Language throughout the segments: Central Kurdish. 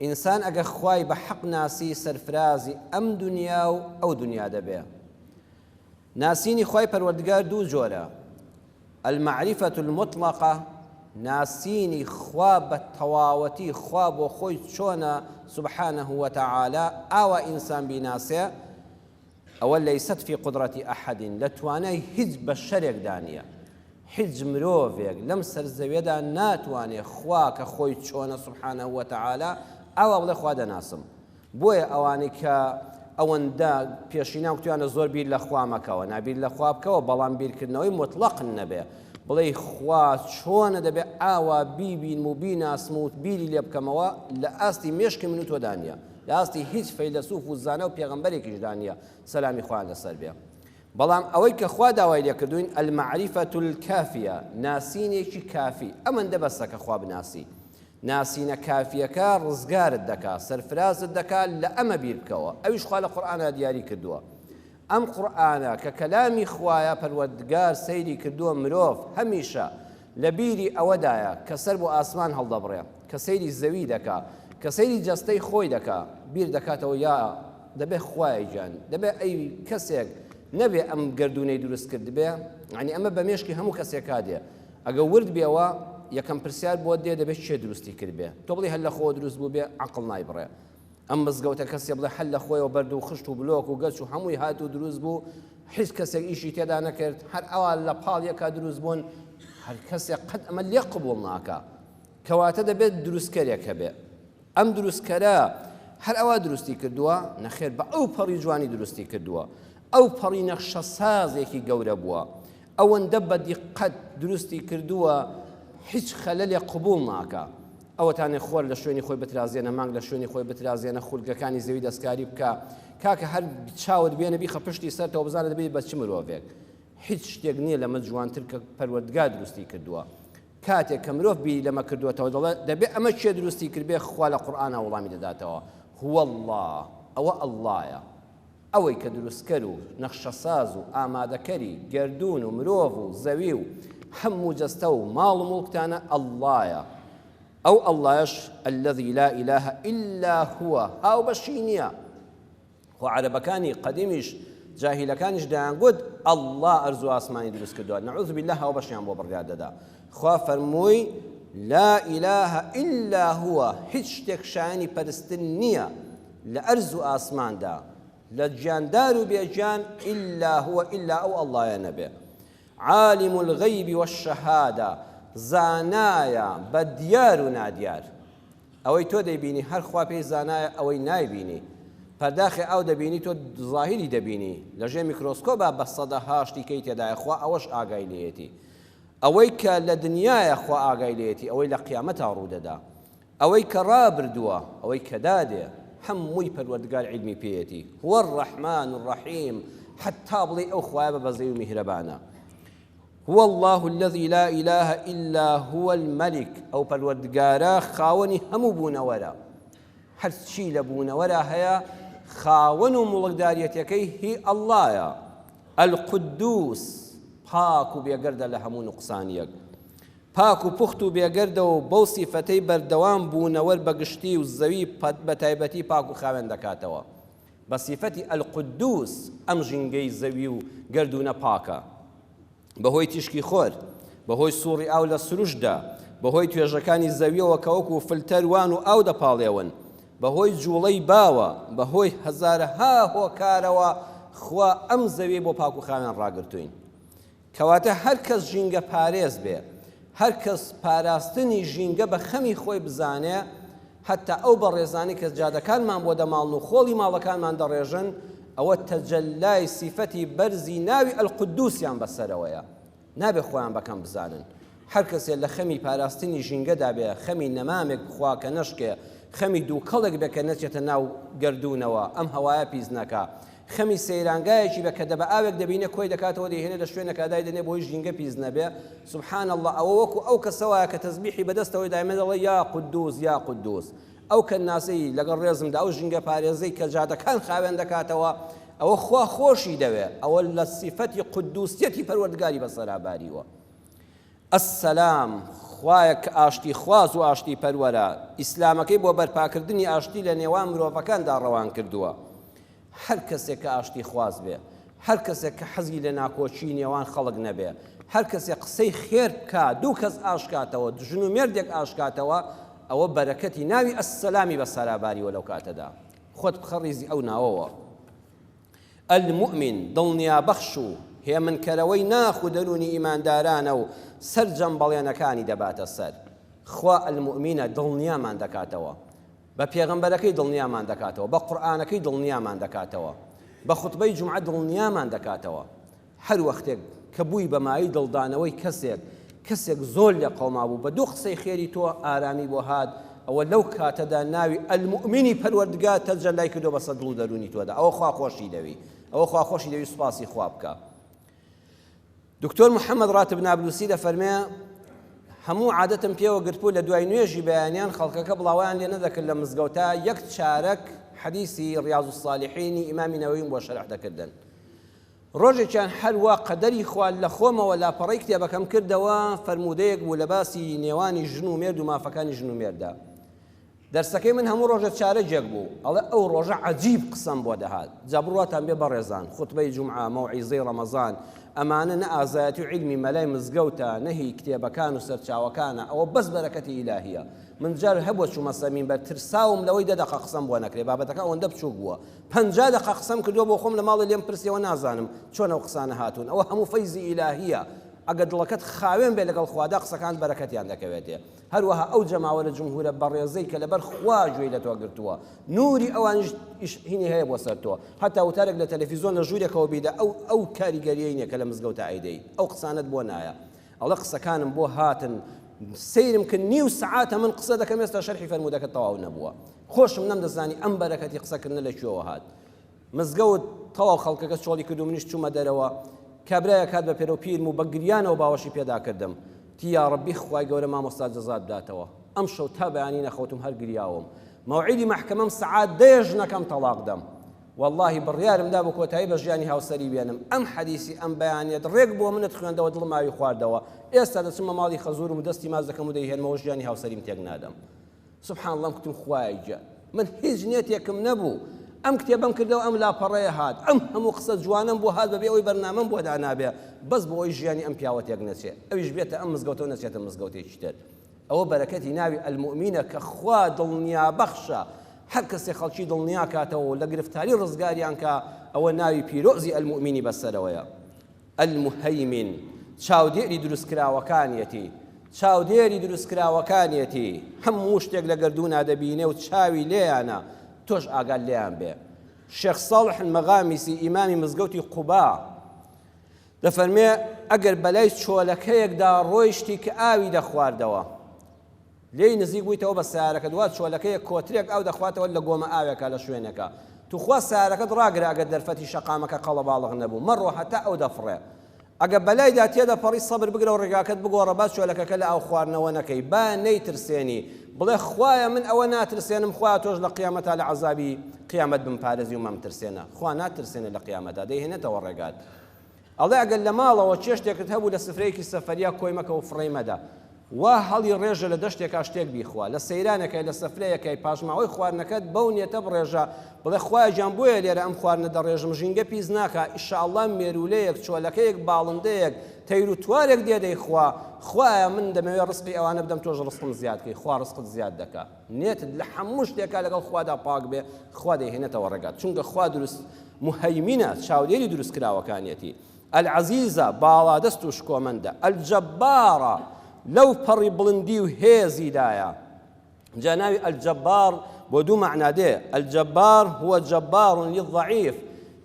ئینسان ئەگەر خوای بە حەق ناسی سەرفرازی ئەم دونیا و ئەو دونیا دەبێ. ناسینی خوای پەروەردگار دوو جۆرە، المعرفە المطلقە، ناسینی خوا بە تەواوەتی خوا بۆ خۆی چۆنە سبحانە وتعالی ئاوا ئینسان بیناسێ، ئەوە لیست فی قدرت احد لە توانای هیچ بەشەرێکدا نیە هیچ مرۆڤێک لەم سەر زەویەدا ناتوانێ خوا کە خۆی چۆنە سبحانە وتعالی ئاوا بڵێ خوا دەناسم بۆیە ئەوانەی کە ئەوەندە پێشینان کوتیانە زۆر بیر لە خوا مەکەوە نابیر لە خوا بکەوە بەڵام بیرکردنەوەی مطلق نەبێ بڵێ خوا چۆنە دەبێ ئاوا بیبین و بیناسم و بیری لێ بکەمەوە لە ئاستی مێشکی من و تۆدانە لەئاستی هیچ فەیلەسوف و زانا و پێغەمبەرێکیشدا نیە سەلامی خوایان لەسەر بێ بەڵام ئەوەی کە خوا داوای لێکردووین المعرفە الکافیە ناسینێکی کافی ئەمەندە بەسە کە خوا بناسی ناسینە کافیەکە ڕزگارت دەکا سەرفرازت دەکا لە ئەمە بیر بکەوە ئەویش خوا لە قورئانا دیاری کردووە ئەم قورئانە کە کەلامی خوایە پەروەردگار سەیری کردووە مرۆڤ هەمیشە لە بیری ئەوەدایە کە سەر بۆ ئاسمان هەڵدەبڕێ کە سەیری زەوی دەکا کە سەیری جەستەی خۆی دەکا بیر دەکاتەوە یا دەبێ خوایە گیان دەبێ ئەی کەسێک نەبێ ئەم گەردوونەی دروست کردبێ یعنی ئەمە بە مێشکی هەموو کەسێکا دێ ئەگە ورد بێەوە یەکەم پرسیار بۆ دێ دەبێت چێ دروستی کردبێ تۆ بڵی هەر لە خۆ دروست بوو بێ عقل نایبڕێ ئەم مزگەوتە کەسێ بڵێ حەل لە خۆیەوە بەرد و خشت و بلۆک و گەچ و هەمووی هات و دروست بوو حیز کەسێک ئیشی تێدا نەکرد هەر ئەوا لە پاڵ یەکا دروست بوون هەر کەسێک قەت ئەمە لێ قبول ناکە کەواتە دەبێت دروستکەرێک هەبێ ئەم دروستکەرە هەر ئەوا دروستی کردووە نەخێر بە ئەو پەڕی جوانی دروستی کردووە ئەو پەڕی نەخشە سازێکی گەورە بووە ئەوەندە بە دیقەت دروستی کردووە هیچ خەلەلێ قبول ناکە ئەوەتانێ خۆر لە شوێنی خۆی بترازێنە مانگ لە شوێنی خۆی بترازێنە خولگەکانی زەوی دەستکاری بکە کاکە هەر چاوت بێنە بیخە پشتی سەرتەوە بزانە دەبێت بە چ مرۆڤێک هیچ شتێک نییە لەمە جوانتر کە پەروەردگار دروستی کردووە کاتێک کە مرۆڤ بیری لەمە کردوێتەوە دەڵێ دەبێت ئەمە چێ دروستی کردبێ خوا لە قورآانە وڵامی دەداتەوە هو الله ئەوە اللهە ئەوەی کە دروستکەر و نەخشەساز و ئامادەکەری گەردوون و مرۆڤ و زەوی و هەموو جەستە و ماڵ و موڵکتانە اللەیە، ئەو اللەیەش الذی لا اله الا هو هاوبەشی نییە، خۆ عەرەبەکانی قەدیمیش جاهیلەکانیش دەیانگوت اللە ئەرز و ئاسمانی دروستکردووە نعوذ باللە هاوبەشیان بۆ بڕیاردەدا، خوا فەرمووی، لا اله الا هو هیچ شتێک شایەنی پەرستن نییە، لە ئەرز و ئاسماندا، لە گیاندار و بێ گیان، الا هو الا ئەو اللەیە نەبێ. عالم الغیب والشهادە، زانایە بە دیار و نادیار. ئەوەی تۆ دەیبینی هەر خوا پێی زانایە ئەوەی نایبینی. پەرداخی ئاو دەبینی تۆ زاهیری دەبینی، لە ژێ میکرۆسکۆبا بە سەدەها شتی کەی تێدایە خوا ئەوەش ئاگای لێیەتی. ئەوەی کە لە دنیایە خوا ئاگای لێیەتی ئەوەی لە قیامەتا ڕوودەدا. ئەوەی کە ڕابردووە ئەوەی کە دادێ هەمووی پەروەردگار عیلمی پێیەتی هو الرحمن الرحیم حەتا بڵێی ئەو خوایە بە بەزەی و میهرەبانە هو الله الذي لا إله إلا هو الملك ئەو پەروەردگارە خاوەنی هەموو بوونەوەرە هەرچی لە بوونەوەرە هەیە خاوەن و مڵکداریەتەکەی هی ئەللایە القدوس پاک و بێگەردە لە هەموو نقصانیەک پاک و پوخت و بێگەردەوە و بەو سیفەتەی بەردەوام بوونەوەر بە گشتی و زەوی بە تایبەتی پاک و خاوێن دەکاتەوە بە سیفەتی القدوس ئەم ژینگەی زەوی و گەردوونە پاکە بەهۆی تیشکی خۆر بەهۆی سوڕی ئاو لە سروشدا بەهۆی توێژەکانی زەویەوە کە وەکو فلتەر وان و ئاو دەپاڵێون بەهۆی جوڵەی باوە بەهۆی هەزارەها هۆکارەوە خوا ئەم زەوی بۆ پاک و خاوێن ڕاگرتوین کەواتە هەر کەس ژینگە پارێز بێ، هەر کەس پاراستنی ژینگە بە خەمی خۆی بزانێ، هەتا ئەو بەڕێزانەی کە جادەکانمان بۆ دەماڵن و خۆڵی ماڵەکانمان دەڕێژن، ئەوە تەجەلای سیفەتی بەرزی ناوی القدوسیان بەسەرەوەیە، نابێ خۆیان بە کەم بزانن، هەر کەسێ لە خەمی پاراستنی ژینگەدا بێ، خەمی نەمامێک بخوا کە نەشکێ، خەمی دووکەڵێک بێ کە نەچێتە ناو گەردوونەوە، ئەم هەوایە پیس ناکا. خەمی سەیرانگایەکی بێ کە دەبەئاوێک دەبینێ کۆی دەکاتەوە دەیهێنێ لە شوێنێکا دایدەنێ بۆی ژینگە پیس نەبێ. سبحان اللە، ئەوە وەکو ئەو کەسە وایە کە تەزبیحی بە دەستەوەی دایمێ دەڵێ یا قدوس یا قدوس. ئەو کەنناسەی، لەگەڵ ڕێزمدا، ئەو ژینگە پارێزەی کە جادەکان خاوێن دەکاتەوە، ئەوە خوا خۆشی دەوێ، ئەوە لە سیفەتی قدوسیەتی پەروەردگاری بەسەرا باریوە. السلام، خوایەک کە ئاشتی خواز و ئاشتی پەروەرە، ئیسلامەکەی بۆ بەرپاکردنی ئاشتی لە نێوان مرۆڤەکاندا ڕەوان کردووە. هەر کەسێک کە ئاشتی خواز بێ، هەر کەسێک کە حەزی لە ناکۆکیی نێوان خەڵک نەبێ، هەر کەسێک قسەی خێر بکا، دوو کەس ئاشکاتەوە، دژن و مێردێک ئاشکاتەوە، ئەوە بەرەکەتی ناوی السلامی بە سەرا باریوە لەو کاتەدا. خۆت بخە ڕیزی ئەو ناوەوە. المومن، دڵنیابەخش و هێمنکەرەوەی ناخ و دەروونی ئیماندارانە و سەرجەم بەڵێنەکانی دەباتە سەر. خوا المومن دڵنیامان دەکاتەوە، بە پێغەمبەرەکەی دڵنیامان دەکاتەوە، بە قورئانەکەی دڵنیامان دەکاتەوە، بە خوتبەی جومعە دڵنیامان دەکاتەوە. هەر وەختێک کە بووی بە مایەی دڵدانەوەی کەسێک، کەسێک زۆر لێ قەوما بوو، بە دوو قسەی خێری تۆ ئارامی بۆ هات، ئەوە لەو کاتەدا ناوی، المومنی پەروەردگار، تەجەلای کردووە بەسەر دڵ و دەروونی تۆدا، ئەوە خوا خۆشی دەوێی، ئەوە خوا خۆشی دەوێی سوپاسی خوا بکە. دکتۆر محەمەد ڕاتب نابلوسی دەفەرمێ، هەموو عادەتم پێوە گرتبوو لە دوای نوێژی بەیانیان خەڵکەکە بڵاوەیان لێ نەدەکرد لە مزگەوتا یەک چارەک حەدیسی ڕیاز الصالحینی ئیمامی نەوەویم بۆ شەرح دەکردن. ڕۆژێکیان هەر وا قەدەری خوا لە خۆمەوە لاپەڕەی کتێبەکەم کردەوە، فەرموودەیەک بوو لە باسی نێوانی ژن و مێرد و مافەکانی ژن و مێرددا. دەرسەکەی من هەموو ڕۆژە چارەگێک بوو، ئەڵێ ئەو ڕۆژە عەجیب قسەم بۆ دەهات. جا بڕواتان بێ بەڕێزان، خوتبەی جومعە، مەوعیزەی ڕەمەزان، ئەمانە نە ئازایەتی و عیلمی مەلای مزگەوتە، نە هی کتێبەکان و سەرچاوەکانە، ئەوە بەس بەرەکەتی ئیلاهییە. من جار هەبووە چوومە سەر مینبەر ترساوم لەوەی دە دەقە قسەم بۆ نەکرێ، بابەتەکە ئەوەندە بچووک بووە، پەنجا دەقە قسەم کردوە بۆ خۆم لە ماڵێ لێم پرسیەوە نازانم چۆن ئەو قسانە هاتوون ئەوە هەموو فەیزی ئیلاهیە ئەگەر دڵەکەت خاوێن بێ لەگەڵ خوادا قسەکان بەرەکەتیان دەکەوێتێ هەروەها ئەو جەماوەرە جمهورە بەڕێزەی کە لەبەر خوا گوێی لە تۆ گرتووە نوری ئەوانیش هینی هەیە بۆ سەر تۆ هەتا وتارێک لە تەلەفیزۆن لە ژوورێکەوە بیدە ئەو ئەو کاریگەریەی نیە کە لە مزگەوتا ئەیدەی ئەو قسانت بۆ نایە ئەڵێ قسەکانم بۆ هاتن سەیرم کرد نیو سعاتە من قسە دەکەم ئێستا شەرحی فەرموودەکە تەواو نەبووە خۆشم نەمدەزانی ئەم بەرەکەتی قسەکردنە لە کوێوە هات مزگەوت تەواو خەڵکەکە چۆڵی کرد و منیش چوومە دەرەوە کابراە کات بە پێرە و پیر و بەگریانەوە باوەشی پێدا کردم تیا ڕبی خوای گەورە مامۆستا جەزات داتەوە ئەم شەو تا بەیانی نەخەوتم هەر گریاوم مەوعیدی مەحکەمەم سعات دەیەژنەکەم تەڵاق دەم وەڵاهی بڕیارم دا بە کۆتایی بە ژیانی هاوسەری بێنم ئەم حەدیسی ئەم بەیانیەت ڕێک بۆ منت خوێندەوە دڵم ئاوی خواردەوە ئێستا دەچمە ماڵی خەزورم و دەستی ماچ دەکەم و دەیهێنمەوە ژیانی هاوسەریم تێک نادەم سبحان اللەم کوتم خوایە گیان من هیچ نێتێکم نەبوو ئەم کتێبم کردەوە ئەم لاپەڕەیە هات ئەم هەموو قسە جوانم بۆ هات بەبێ ئەوی بەرنامەم بۆ دانابێ بەس بۆ ئەوی ژیانی ئەم پیاوەتێک نەچێ ئەویش بێتە ئەم مزگەوتەوە نەچێتە مزگەوتێکی تر ئەوە بەرەکەتی ناوی المومینە کە خوا دڵنیابەخشە، هەر کەسێ خەڵکی دڵنیاکاتەوە و لە گرفتاری ڕزگاریان کا ئەوە ناوی پیرۆزی المومینی بەسەرەوەیە. المهیمن چاودێری دروستکراوەکانیەتی، چاودێری دروستکراوەکانیەتی، هەموو شتێک لە گەردوونا دەبینێ و چاوی لێیانە، تۆش ئاگات لێیان بێ. شێخ ساڵح المغامسی ئیمامی مزگەوتی قوبا، دەفەرمێ، ئەگەر بەلای چۆلەکەیەکدا ڕۆیشتی کە ئاوی دەخواردەوە، لێی نزیک بوویتەوە بە سەیارەکەت، وا چۆلەکەیەک کۆترێک ئاو دەخواتەوە لە گۆمە ئاوێکا لە شوێنێکا، توخوا سەیارەکەت ڕاگرە ئەگەر دەرفەتی شەقامەکە قەڵەباڵغ نەبوو، مەڕۆ هەتا ئەو دەفڕێ. ئەگەر بەلایدا تێدەپەڕی سەبر بگرە و ڕێگاکەت بگۆڕە، با چۆلەکەکە لە ئاو خواردنەوە نەکەی، با نەیترسێنی، بڵێ، خوایە من ئەوە ناترسێنم، خوایە تۆش لە قیامەتا لە عەزابی قیامەت بمپارێزی و مەمترسێنە. خوا ناترسێنێ لە قیامەتا، دەیهێنێتەوە ڕێگات. ئەڵێ ئەگەر لە ماڵەوە چێشتێکت هەبوو لە سفرەیەکی سەفەریا کۆی مەکە و فڕێی مەدە وا هەڵی ڕێژە لە دەشتێکا شتێک بیخوا لە سەیرانەکەی لە سەفرەیەکەی پاشماوەی خواردنەکەت بەو نیەتە بڕێژە بڵێ خوایە گیان بۆیە لێرە ئەم خواردنە دەڕێژم ژینگە پیس ناکا ئیشاڵڵا مێروولەیەک چۆلەکەیەک باڵندەیەک تەیر و توارێک دێ دەیخوا خوایە من دەمەوێ ڕزقی ئەوانە بدەم تۆش ڕزقم زیاد کەی خوا ڕزقت زیاد دەکا نێتت لە هەموو شتێکا لەگەڵ خوادا پاک بێ خوا دەیهێنێتەوە ڕێگات چونکە خوا دروست مهیمینە چاودێری دروست کراوەکانیەتی العزیزە باڵادەست و شکۆمەندە الجبارە لەو پەڕی بڵندی و هێزیدایە جا ناوی الجبار بۆ دوو مەعنا دێ الجبار هو جبار للضعیف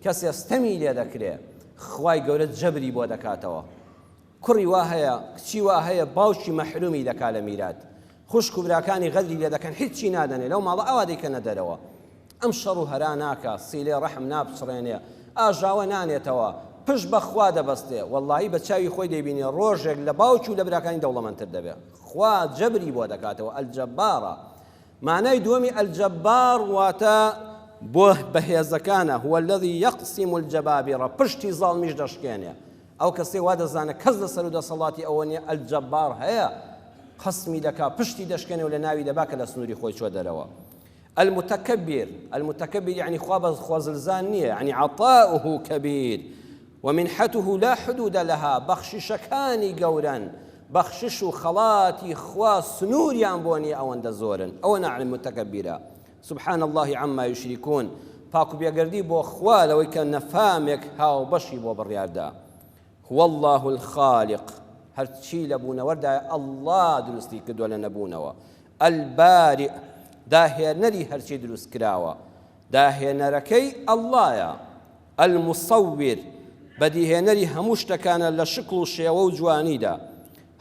کەسێ ستەمی لێ دەکرێ خوای گەورە جەبری بۆ دەکاتەوە کوڕی وا هەیە کچی وا هەیە باوکی مەحرومی دەکا لە میرات خوشک و براکانی غەدری لێ دەکەن هیچی نادەنێ لەو ماڵە ئاوا دەیکەنە دەرەوە ئەم شەڕ و هەرا ناکا سیلێ ڕەحم نابچڕێنێ ئاژاوە نانێتەوە پشت بە خوا دەبەستێ وەڵاهی بە چاوی خۆی دەیبینێ ڕۆژێک لە باوکی و لە براکانی دەوڵەمەندتر دەبێ خوا جەبری بۆ دەکاتەوە ئەلجەبارە مانای دووەمی ئەلجەبار واتە بۆ بەهێزەکانە هو الذي يقسم الجبابرە پشتی زاڵمیش دەشکێنێ ئەو کەسەی وا دەزانێت کەس لە سەرو دەسەڵاتی ئەوە نیە ئەلجەبار هەیە خەسمی دەکا پشتی دەشکێنێ و لە ناوی دەبا کە لە سنوری خۆی چوە دەرەوە المتکبر المتکبر یعنی خوا بە خوازلزان نیە یعنی عطاؤه کبیر ومنحته لا حدود لها بەخششەکانی گەورەن بەخشش و خەڵاتی خوا سنووریان بۆ نیە ئەوەندە زۆرن ئەوە ناعلم متکبیرە سبحان اللە عما یشرکون، پاک و بێگەردی بۆ خوا لەوەی کە نەفامێک هاوبەشی بۆ بڕیاردا. هو اللە الخالق، هەرچی لە بوونەوەردایە اللە دروستی کردووە لە نەبوونەوە. البارئ، داهێنەری هەرچی دروستکراوە، داهێنەرەکەی اللە یە. المصور، بەدیهێنەری هەموو شتەکانە لە شکڵ و شێوە و جوانیدا.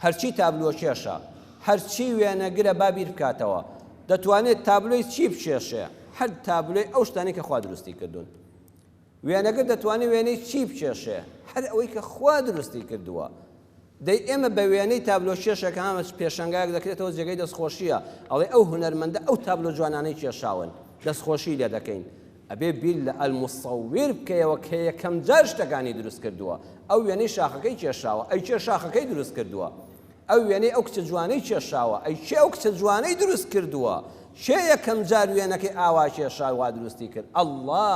هەرچی تابلۆکێشە، هەرچی وێنەگرە با بیر بکاتەوە، دەتوانێت تابلۆی چی بکێشێ؟ هەر تابلۆی ئەو شتانەی کە خوا دروستی کردوون. وێنەگر دەتوانێت وێنەی چی بکێشێ؟ هەر ئەوەی کە خوا دروستی کردووە. دەی ئێمە بە وێنەی تابلۆکێشێک هەمە پێشەنگایەک دەکرێتەوە جێگەی دەستخۆشییە، ئەڵێ ئەو هونەرمەندە ئەو تابلۆ جوانانەی کێشاون، دەستخۆشیی لێ دەکەین. ئەبێ بیر لە المصور بکەیەوە کە یەکەم جار شتەکانی دروست کردووە، ئەو وێنەی شاخەکەی کێشاوە، ئەی کێ شاخەکەی دروست کردووە؟ ئەو وێنەی ئەو کچە جوانەی کێشاوە، ئەی کێ ئەو کچە جوانەی دروست کردووە؟ کێ یەکەم جار وێنەکەی ئاوا کێشا و وا دروستی کرد؟ اللە!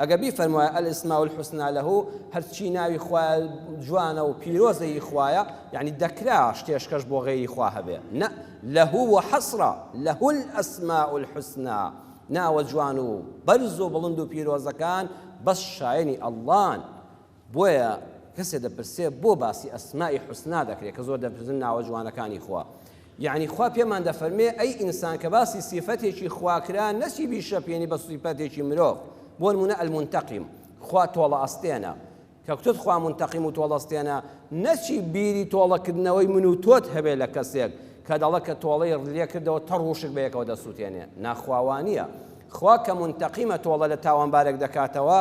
ئەگەر بیفەرموایە الاسماء الحسنی له هەرچی ناوی خوایە جوانە و پیرۆزە هی خوایە یەعنی دەکرا شتێشکەش بۆ غەیری خوا هەبێ نە له وحصرا له الاسماء الحسنی ناوە جوان و بەرز و بڵند و پیرۆزەکان بەس شایەنی اللەن بۆیە کەسێ دەپرسێ بۆ باسی اسماء حسنا دەکرێ کە زۆر دەپرسن ناوە جوانەکانی خوا یعنی خوا پێمان دەفەرمێ ئەی ئینسان کە باسی سیفەتێکی خواکرا نەچی بیشەپێنی بە سیفەتێکی مرۆڤ بۆ نمونە المنتقیم خوا تۆڵە ئەستێنە کە کتت خوا منتقیم و تۆڵەستێنە نەچی بیری تۆڵەکردنەوەی من و تۆت هەبێ لە کەسێک کە دەڵە کە تۆڵەی ڕلێ کردەوە تە ڕوشک بەیەکەوە دەسووتێنێ ناخواوانە خوا کە منتقیمە تۆڵە لە تاوانبارێک دەکاتەوە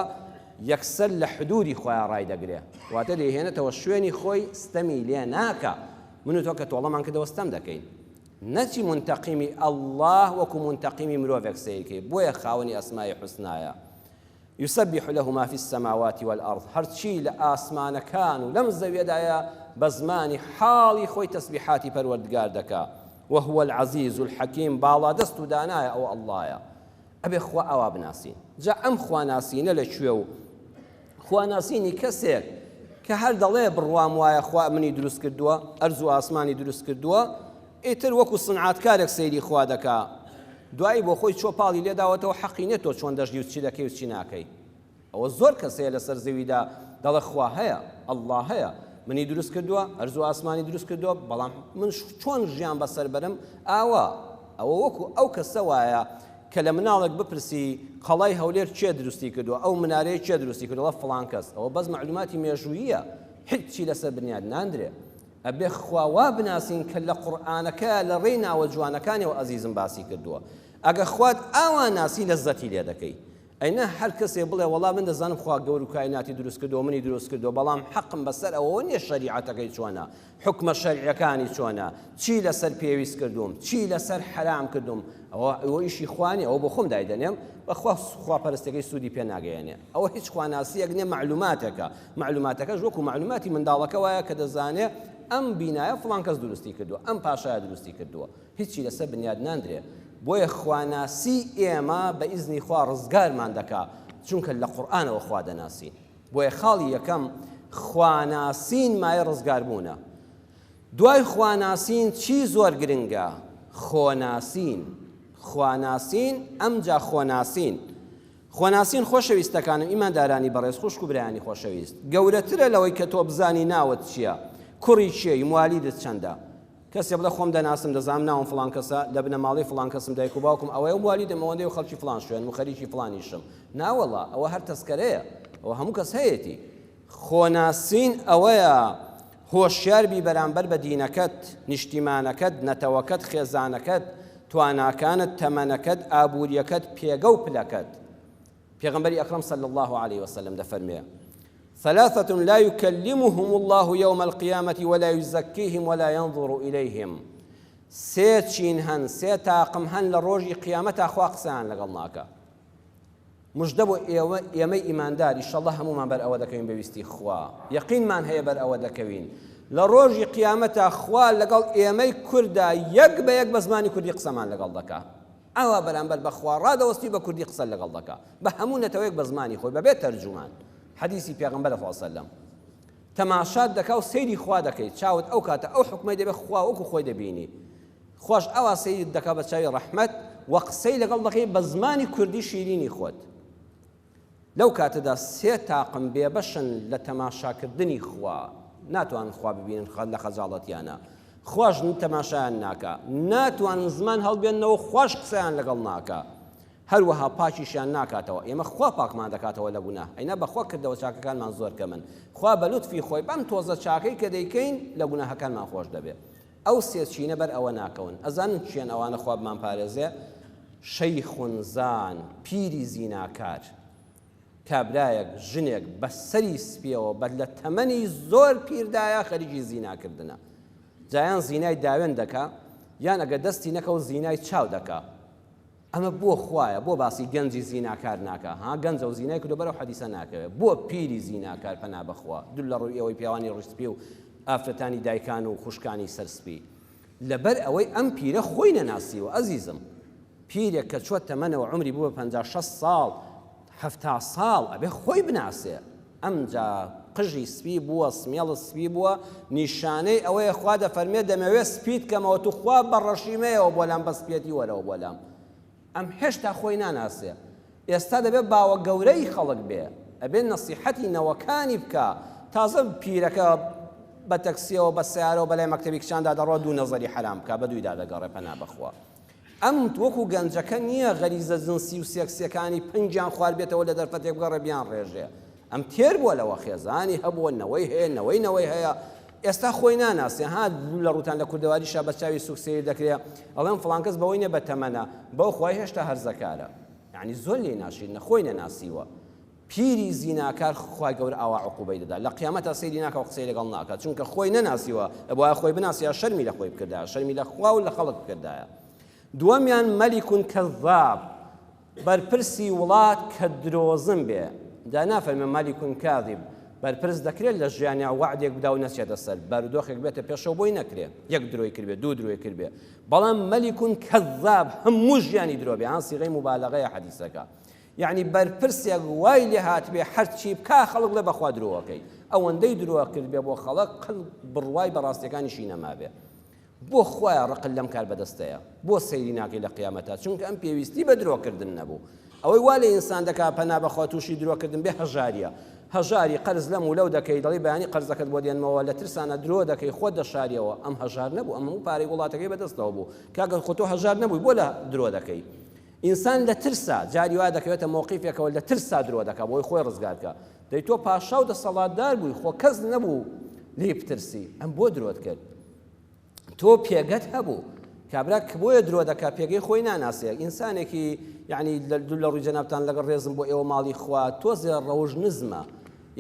یەکسەر لە حدوودی خۆیان ڕایدەگرێ، واتە دەیهێنێتەوە شوێنی خۆی ستەمی لێ ناکا، من و تۆ کە تۆڵەمان کردەوە ستەم دەکەین نەچی مونتەقیمی اللە وەکو مونتەقیمی مرۆڤێک سەیر کەی بۆیە خاوەنی اسماء حسنایە یسبح له ما فی السماوات والارض هەرچی لە ئاسمانەکان و لەم زەویەدایە بە زمانی حاڵی خۆی تەسبیحاتی پەروەردگار دەکا وهو العزیز الحکیم باڵادەست و دانایە ئەو اللە یە ئەبێ خوا ئاوا بناسین جا ئەم خوا ناسینە لە کوێ و خوا ناسینی کەسێک کە هەر دەڵێ بڕوام وایە خوا منی دروست کردووە ئەرز و ئاسمانی دروست کردووە ئیتر وەکو سنعاتکارێک سەیری خوا دەکا دوایی بۆ خۆی چۆ پاڵی لێداوەتەوە حەقی نیە تۆ چۆن دەژی و چی دەکەی و چی ناکەی ئەوە زۆر کەس هەیە لەسەر زەویدا دەڵێ خوا هەیە، اللە هەیە، منی دروست کردووە، ئەرزو ئاسمانی دروست کردووە، بەڵام من چۆن ژیان بەسەر بەرم؟ ئاوا، ئەوە وەکو ئەو کەسە وایە کە لە مناڵێک بپرسی قەڵای هەولێر کێ دروستی کردووە، ئەو منارەیە کێ دروستی کردووە؟ دەڵێ فڵان کەس، ئەوە بەس مەعلوماتی مێژووییە، هیچی لەسەر بنیات ناندرێ. ئەبێ خوا وا بناسین کە لە قورئانەکە لە ڕێی ناوە جوانەکانیەوە ئەزیزم باسی کردووە. ئەگە خوات ئاوا ناسی لەززەتی لێ دەکەی. ئەینا هەر کەسێ بڵێ وەڵا من دەزانم خوا گەورو کایناتی دروست کردوە منی دروست کردوە بەڵام حەقم بەسەر ئەوەوە نیە شەریعەتەکەی چۆنە حوکمە شەرعیەکانی چۆنە چی لەسەر پێویست کردوم چی لەسەر حەرام کردوم ئەوە ئەوە ئیشی خوا نیە ئەوە بۆ خۆم دایدەنێم بەخوا خوا پەرستەکەی سوودی پێ ناگەیەنێ ئەوە هیچ خواناسیەک نیە معلوماتەکە معلوماتەکەش وەکو معلوماتی منداڵەکە وایە کە دەزانێ ئەم بینایە فڵان کەس دروستی کردوە ئەم پاشایە دروستی کردوە هیچی لەسەر بنیاد ناندرێ بۆیە خواناسی ئێمە بە ئیزنی خوا ڕزگارمان دەکا چونکە لە قورئانەوە خوا دەناسین بۆیە خاڵی یەکەم خواناسین مایە ڕزگاربوونە دوای خواناسین چی زۆر گرنگە خۆناسین خواناسین ئەمجا خۆناسین خۆناسین خۆشەویستەکانم ئیماندارانی بەڕێز خوشک و برایانی خۆشەویست گەورەترە لەوەی کە تۆ بزانی ناوت چییە کوڕی چێی موالیدت چەندە کەسێ بڵێ خۆم دەناسم دەزانم ناوم فڵان کەسە لە بنەماڵەی فڵان کەسم دایک و باوکم ئەوەیە و موالیدم ئەوەندەیە و خەڵکی فڵان شوێنم و خەریکی فڵانیشم ناوەڵا ئەوە هەر تەسکەرەیە ئەوە هەموو کەس هەیەتی خۆناسین ئەوەیە هۆشیار بی بەرامبەر بە دینەکەت نیشتیمانەکەت نەتەوەکەت خێزانەکەت تواناکانت تەمەنەکەت ئابووریەکەت پێگە و پلەکەت پێغەمبەری ئەکرەم صلی اللە علیە وسلم دەفەرموێ، ثلاثە لا یکلمهم اللە یوم القیامە ولا یزکیهم ولا ینظر الیهم سێ چین هەن سێ تاقم هەن لە ڕۆژی قیامەتا خوا قسەیان لەگەڵ ناکە مژدە بۆ ئێوە ئێمەی ئیماندار ئیشەڵە هەمومان بەر ئەوە دەکەوین بەویستی خوا یەقینمان هەیە بەر ئەوە دەکەوین لە ڕۆژی قیامەتا خوا لەگەڵ ئێمەی کوردا یەک بە یەک بە زمانی کوردی قسەمان لەگەڵ دەکە ئاوا بەرامبەر بە خوا ڕادەوەستی و بە کوردی قسە لەگەڵ دەکا بە هەموو نەتەوەیەک بە زمانی خۆی بەبێ تەرجومان حەدیسی پێغەمبەرە صلی اللە علیه و سلم تەماشات دەکا و سەیری خوا دەکەی چاوت ئەو کاتە ئەو حوکمەی دەبێ خوا وەکو خۆی دەبینی خواش ئاوا سەیرت دەکا بە چاوی ڕەحمەت و قسەی لەگەڵ دەکەی بە زمانی کوردی شیرینی خۆت لەو کاتەدا سێ تاقم بێبەشن لە تەماشاکردنی خوا، ناتوانن خوا ببینن لە خەجاڵەتیانە، خواش تەماشایان ناکا، ناتوانن زمان هەڵبێننەوە خواش قسەیان لەگەڵ ناکا، هەروەها پاکیشیان ناکاتەوە، ئێمە خوا پاکمان دەکاتەوە لە گوناه، ئەینا بەخوا کردەوە چاکەکانمان زۆر کەمن، خوا بە لوتفی خۆی بەم تۆزە چاکەی کە دەیکەین لە گوناهەکانمان خۆش دەبێ. ئەو سێ چینە بەر ئەوە ناکەون. ئەزانن کێن ئەوانە خوا بمانپارێزێ؟ شیخ زان، پیری زیناکار. کابرایەک ژنێک بە سەری سپیەوە بە لە تەمەنی زۆر پیردایە خەریکی زیناکردنە. جایان زینای داوێن دەکا یان ئەگە دەستی نەکەوت زینای چاو دەکا. ئەمە بۆ خوایە بۆ باسی گەنجی زیناکار ناکا ها گەنجە و زینای کردو بەرەو حەدیسە ناکەوێ بۆ پیری زیناکار پەنا بەخوا دور لە ڕوی ئێوەی پیاوانی ڕوی سپی و ئافرەتانی دایکان و خوشکانی سەر سپی لەبەر ئەوەی ئەم پیرە خۆی نەناسیوە ئەزیزم پیرێک کە چوە تەمەنەوە عومری بوە پەنجا شەست ساڵ حەفتا ساڵ ئەبێ خۆی بناسێ ئەمجا قژی سپی بووە سمێڵت سپی بووە نیشانەی ئەوەیە خوا دەفەرمێ دەمەوێ سپیت کەمەوە توخوا بە ڕەشی مەیەوە بۆ لام بە سپیەتی وەرەوە بۆ لام ئەم هێشتا خۆی ناناسێ ئێستا دەبێت باوە گەورەی خەڵک بێ ئەبێت نەسیحەتی نەوەکانی بکە تازە پیرەکە بە تەکسیەوە بە سیارەوە بەلای مەکتتەبی کچاندا دەڕۆ دوو نەزەری حرام بکە بە دوویدا دەگەڕێ پەنا بەخوا ئەم وەکو گەنجەکە نییە غەریزە جنسی و سێکسیەکانی پەنگیان خواردبێتەوە لە دەرفەتێک بگەڕێ بیانڕێژێ. ئەم تێر بووە لەوە خێزانی هەبووە، نەوەی هەیە، نەوەی نەوەی هەیە. ئێستا خۆی ناناسێ ها لە ڕووتان لە کوردەواریشا بە چاوی سووک سەیر دەکرێ. ئەڵێن فڵان کەس بەوەی نییە بە تەمەنە، بەوخوای هێشتا هەرزەکارە. یانی زۆر لێی ناشرینە خۆی نەناسیوە. پیری زیناکار خوای گەورە ئاوا عقوبەی دەدا لە قیامەتا سەیری ناکا و قسەی لەگەڵ ناکا چونکە خۆی نەناسیوە ئەبوایە خۆی بناسیا شەرمی لە خۆی بکردایە شەرمی لە خوا و لە خەڵک بکردایە دووەمیان مەلیک کەذاب بەرپرسی وڵات کە درۆزن بێ دا نافەرمێ مەلیک کاذب بەرپرس دەکرێت لە ژیانیا وعدێک بدا و نەچێتە سەر بارودۆخێک بێتە پێشەوە بۆی نەکرێ یەک درۆی کردێ دوو درۆی کردێ بەڵام مەلیکون کەذاب هەموو ژیانی درۆ بێ هان سیغەی مبالغەیە حەدیسەکە یەعنی بەرپرسێک وای لێ هاتبێ هەرچی بکا خەڵک بڵێ بەخوا درۆەکەی ئەوەندەی درۆ کردبێ بۆ خەڵک قل بڕوای بە ڕاستیەکانیشی نەمابێ بۆ خوایە ڕقل لەم کار بەدەستەیە بۆ سەیری ناکەی لە قیامەتە چونکە ئەم پێویستی بە درۆکردن نەبوو ئەوەی وا لە ئینسان دەکا پەنا بەخوا تووشی درۆکردن بێ هەژاریە هەژاری قەرز لەم و لەو دەکەی دەڵی بەیانی قەرزەکەت بۆ دێنمەوە لە ترسانە درۆ دەکەی خۆت دەشاریەوە ئەم هەژار نەبوو ئەم و پارەی وڵاتەکەی بەدەستەوە بوو کاگەن خۆتۆ هەژار نەبووی بۆ لە درۆ دەکەی ئینسان لە ترسا جاری وا دەکەوێتە مەوقیفێکەوە لە ترسا درۆ دەکا بۆی خۆی ڕزگار بکا دەی تۆ پاشا و دەسەڵاتدار بووی خۆ کەس نەبوو لێی بترسی ئەم بۆ درۆت کرد تۆ پێگەت هەبوو کابرا کە بۆیە درۆ دەکا پێگەی خۆی ناناسێ ئینسانێکی یعنی دوو لە ڕووی جەنابان لەگەڵ ڕێزم بۆ ئێوە ماڵی خوا تۆزێ ڕەوژ نزمە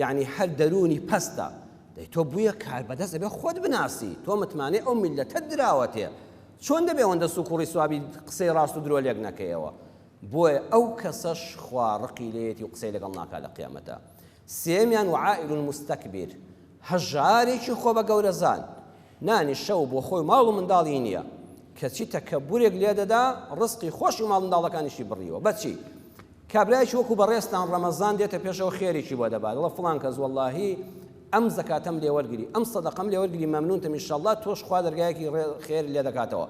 یعنی هەر دەرونی پەستە دەی تۆ بویە کار بەدەست ئەبێ خۆت بناسی تۆ متمانەی ئەو میلەتە دراوەتێ چۆن دەبێ ئەوەندە سوکوڵی سوابی قسەی ڕاست و درۆ لێک نەکەیەوە؟ بۆیە ئەو کەسەش خوا ڕقی لێیەتی و قسەی لەگەڵ ناکا لە قیامەتا. سێیەمیان وعائل مستکبر، هەژارێکی خۆ بە گەورە زان، نانی شەو بۆ خۆی و ماڵ و منداڵی نیە، کەچی تەکەبورێک لێ دەدا، ڕزقی خۆشی و ماڵ منداڵەکانیشی بڕیوە، بەچی؟ کابرایەکی وەکو بەڕێزتان ڕەمەزان دێتە پێشەوە خێرێکی بۆ دەبا، دەڵێ فڵان کەس وەڵاهی ئەم زەکاتەم لێ وەرگری ئەم سەدەقەم لێ وەرگری مەمنونتم ان شاءاللە تۆش خوا دەرگایەکی خێر لێ دەکاتەوە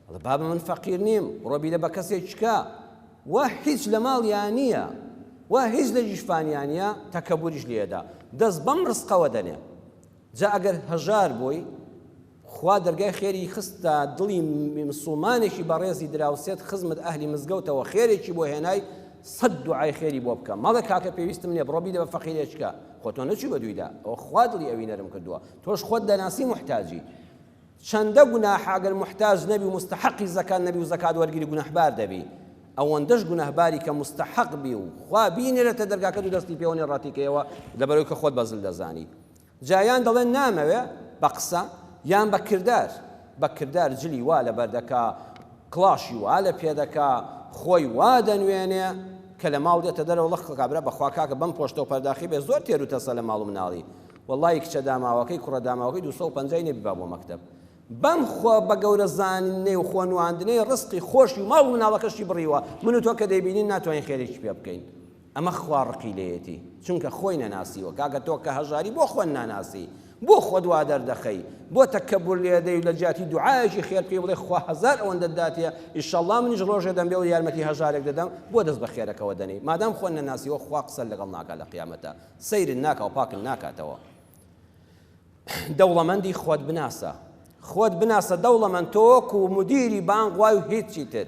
ئەڵێ بابە من فەقیر نیم بڕۆ بیدە بە کەسێک چکە وا هیچ لە ماڵیان نییە وا هیچ لە جیشفانیان نیە تەکەبوریش لێدا دەست بەم ڕسقەوە دەنێ جا ئەگەر هەژار بووی خوا دەرگای خێری خستە دڵی مسوڵمانێکی بەڕێزی دراوسێت خزمت ئەهلی مزگەوتەوە خێرێکی بۆ هێنای سەد دوعای خێری بۆ بکە مەڵێ کاکە پێویستم نیە بڕۆ بیدە بە فەقیرێچکە خۆ تۆ نەچوی بە دویدا ئەو خوا دڵی ئەوی نەرم کردووە تۆش خۆت دەناسی محتاجی چەندە گوناحە گەر محتاج نەبی و مستحقی زەکات نەبی و زەکات وەرگری گوناحبار دەبی ئەوەندەش گوناهباری کە مستحق بی و خوا بینێرەتە دەرگاکە دوو دەستی پێوەنێ ڕاتیکەیەوە لەبەرەوەی کە خۆت بەزل دەزانی جا یان دەڵێ نامەوێ بە قسە یان بە کردار، بە کردار جلی وا لەبەر دەکا، کڵاشی وا لە پێ دەکا، خۆی وا دەنوێنێ کە لە ماڵ دێتە دەرەوە ڵق ڵق ئەبرا، بەخوا کاکە بەم پۆشتە و پەرداخی بێ زۆر تێر و تەسە لە ماڵ و مناڵی، وەڵڵاهی کچە داماوەکەی کوڕە داماوەکەی دوو سەد و پەنجا ی نەبیبا بۆ مەکتەب، بەم خۆ بە گەورە زانینەی و خۆ نواندنەی ڕزقی خۆشی و ماڵ و مناڵەکەشی بڕیوە، من و تۆ کە دەیبینین ناتوانین خێرێکی پێ بکەین. ئەمە خوا ڕقی لێیەتی چونکە خۆی نەناسیوە کاکە تۆ کە هەژاری بۆ خۆت ناناسی بۆ خۆت وا دەردەخەی بۆ تەکەبور لێدەی و لە جیاتی دوعایەکی خێر پێی بڵێ خوا هەزار ئەوەندەت داتێ ئیشەڵڵا منیش ڕۆژێ دەمبێ و یارمەتی هەژارێک دەدەم بۆ دەست بە خێرەکەوە دەنێی مادام خۆت نەناسیوە خوا قسەت لەگەڵ ناکات لە قیامەتە سەیرت ناکا و پاکت ناکاتەوە دەوڵەمەندی خۆت بناسە خۆت بناسە دەوڵەمەند تۆ وەکو مدیری بانگوای و هیچی تر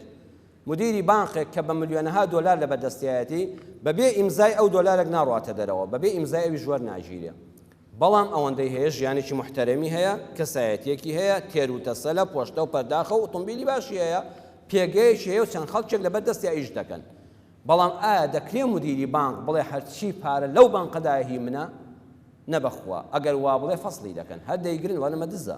مدیری بانقێک کە بە ملیۆنەها دۆلار لە بەردەستیایەتی، بە بێ ئیمزای ئەو دۆلارێک ناڕواتە دەرەوە، بە بێ ئیمزای ئەویش وەرناگیرێ. بەڵام ئەوەندەی هەیە ژیانێکی موحتەرەمی هەیە، کەسایەتییەکی هەیە، تێر و تەسەلە، پۆشتە و پەرداخە و ئوتومبیلی باشی هەیە، پێگەیەکی هەیە و چەند خەڵکێک لە بەر دەستیا ئیش دەکەن. بەڵام ئایا دەکرێ مدیری بانق بڵێ هەرچی پارە لەو بانقەدایە هی منە؟ نەبەخوا، ئەگەر وابڵێ فەسڵی دەکەن، هەر دەیگرن، وانەمە دزە.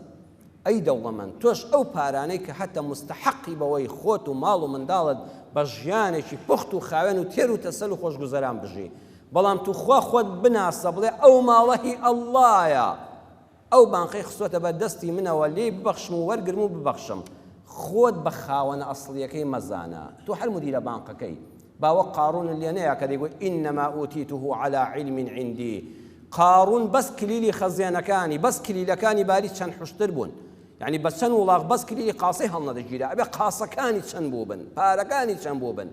ئەی دەوڵەمەند تۆش ئەو پارانەی کە هەتە موستەحەقی بەوەی خۆت و ماڵ و منداڵت بە ژیانێکی پوخت و خاوێن و تێر و تەسەل و خۆشگوزەران بژی بەڵام توخوا خۆت بناسە بڵێ ئەو ماڵە هی ئەڵڵایە ئەو بانقەی خستۆتە بەر دەستی منەوە لێی ببەخشم و وەرگرم و ببەخشم خۆت بە خاوەنە ئەسڵیەکەی مەزانە تۆ هەر مودیرە بانقەکەی با وەک قارون لێ نەیا کە دەیگوت انما اوتیته علی علم عندی قارون بەس کلیلی خەزێنەکانی بەس کلیلەکانی باری چەند حشتر بوون یعنی بە چەند وڵاغ بەس کلیلی قاسەی هەڵنەدەگیرا ئەبێ قاسەکانی چەند بوو بن پارەکانی چەند بوو بن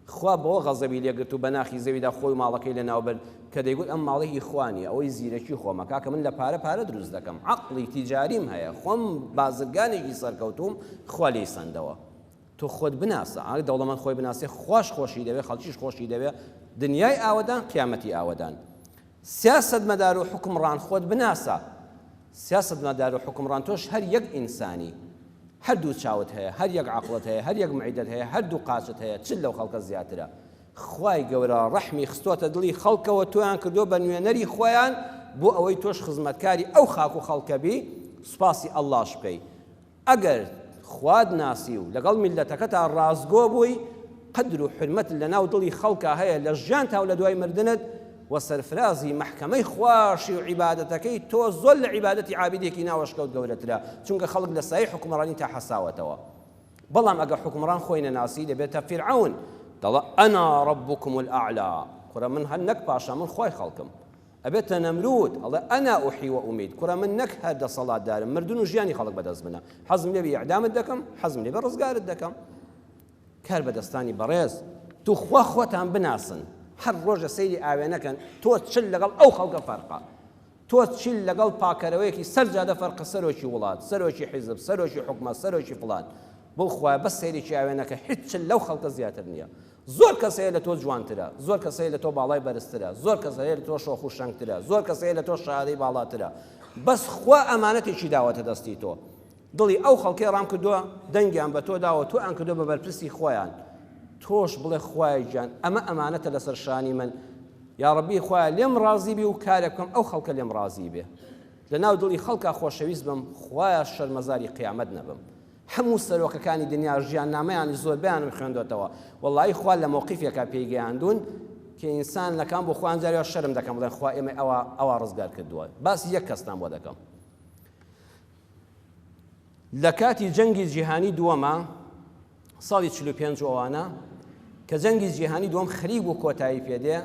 خوا بەوە غەزەبی لێگرت و بەناخی زەویدا خۆی ماڵەکەی لە ناوبرد کە دەیگوت ئەم ماڵی هیخوانی ئەوەی زیرەکی خۆمە کاکە من لە پارە پارە دروست دەکەم عقلی تیجاریم هەیە خۆم بازرگانێکی سەرکەوتوم خوا لی سندەوە تۆ خۆت بناسە ئاگ دەوڵەمەند خۆی بناسێ خواش خۆشی دەوێ خەڵکیش خۆشی دەوێ دنیای ئاوەدان قیامەتی ئاوەدان سیاسەت مەدارو حکم ڕان خۆت بناسە سیاسەت مەدارو حکم ڕان تۆش هەر یەک ئینسانی هەر دوو چاوت هەیە هەر یەک عقلت هەیە هەر یەک معیدت هەیە هەر دوو قاچت هەیە چل لەو خەڵکە زیاترە خوای گەورە ڕەحمی خستۆتە دڵی خەڵکەوە تۆیان کردو بە نوێنەری خۆیان بۆ ئەوەی تۆش خزمەتکاری ئەو خاک و خەڵکە بی سوپاسی ئەڵڵاش بکەی ئەگەر خوات ناسی و لەگەڵ میللەتەکەتا ڕاستگۆ بووی، قەدر و حورمەتت لەناو دڵی خەڵکا هەیە لە ژیانتا و لە دوای مردنت، وە سەرفرازی مەحکەمەی خواشی و عیبادەتەکەی تۆ زۆر لە عیبادەتی عابیدێکی ناوەشکەوت گەورەترە، چونکە خەڵک لە سایەی حوکمڕانیتا حەساوەتەوە. بەڵام ئەگەر حوکمڕان خۆی نەناسی دەبێتە فیرعەون، دەڵێ، انا ربکم الاعلی، کوڕە من هەر نەک پاشا من خوای خەڵکم. ئەبێتە نەمروود ئەڵێ انا احی و امیت کوڕە من نەک هەر دەسەڵاتدارم مردن و ژیانی خەڵک بەدەست منە حەزم لێ بی اعدامت دەکەم حەزم لێ بە ڕزگارت دەکەم کار بەدەستانی بەڕێز توخوا خۆتان بناسن هەر ڕۆژە سەیری ئاوێنەکەن تۆ چل لەگەڵ ئەو خەڵکە فەرقە تۆ چیل لەگەڵ پاکەرەوەیەکی سەرجادە فەرقە سەرۆکی وڵات سەرۆکی حیزب سەرۆکی حکومە سەرۆکی فلان بۆ خوای بەس سەیرێکی ئاوێنەکە هیچ لەو خەڵکە زیاتر نییە زۆر کەس هەیە لە تۆ جوانترە، زۆر کەس هەیە لە تۆ باڵای بەرزترە، زۆر کەس هەیە لە تۆ شۆخ و شەنگترە، زۆر کەس هەیە لە تۆ شەهادەی باڵاترە، بەس خوا ئەمانەتێکی داوەتە دەستی تۆ، دڵی ئەو خەڵکەی ڕام کردووە، دەنگیان بە تۆ داوە، تۆیان کردووە بە بەرپرسی خۆیان، تۆش بڵێ خوایە گیان ئەمە ئەمانەتە لەسەر شانی من، یا ڕەبی خوایە لێم ڕازی بی و کارێک بکەم ئەو خەڵکە لێم ڕازی بێ، لەناو دڵی خەڵکا خۆشەویست بم، خوایە شەرمەزاری قیامەت نەبم، هەموو سەرۆکەکانی دنیا ژیاننامەیانی زۆربەیانم خوێندۆتەوە وەڵایی خوا لە مەوقیفێکا پێی گەیاندوون کە ئینسان نەکان بۆ خۆیان جاری وا شەرم دەکەن بڵێن خوا ئێمەی ئەوا ئەوا ڕزگار کردووە باسی یەک کەستان بۆ دەکەم لە کاتی جەنگی جیهانی دووەما ساڵی 45 ئەوانە کە جەنگی جیهانی دووەم خەریک بوو کۆتایی پێدێ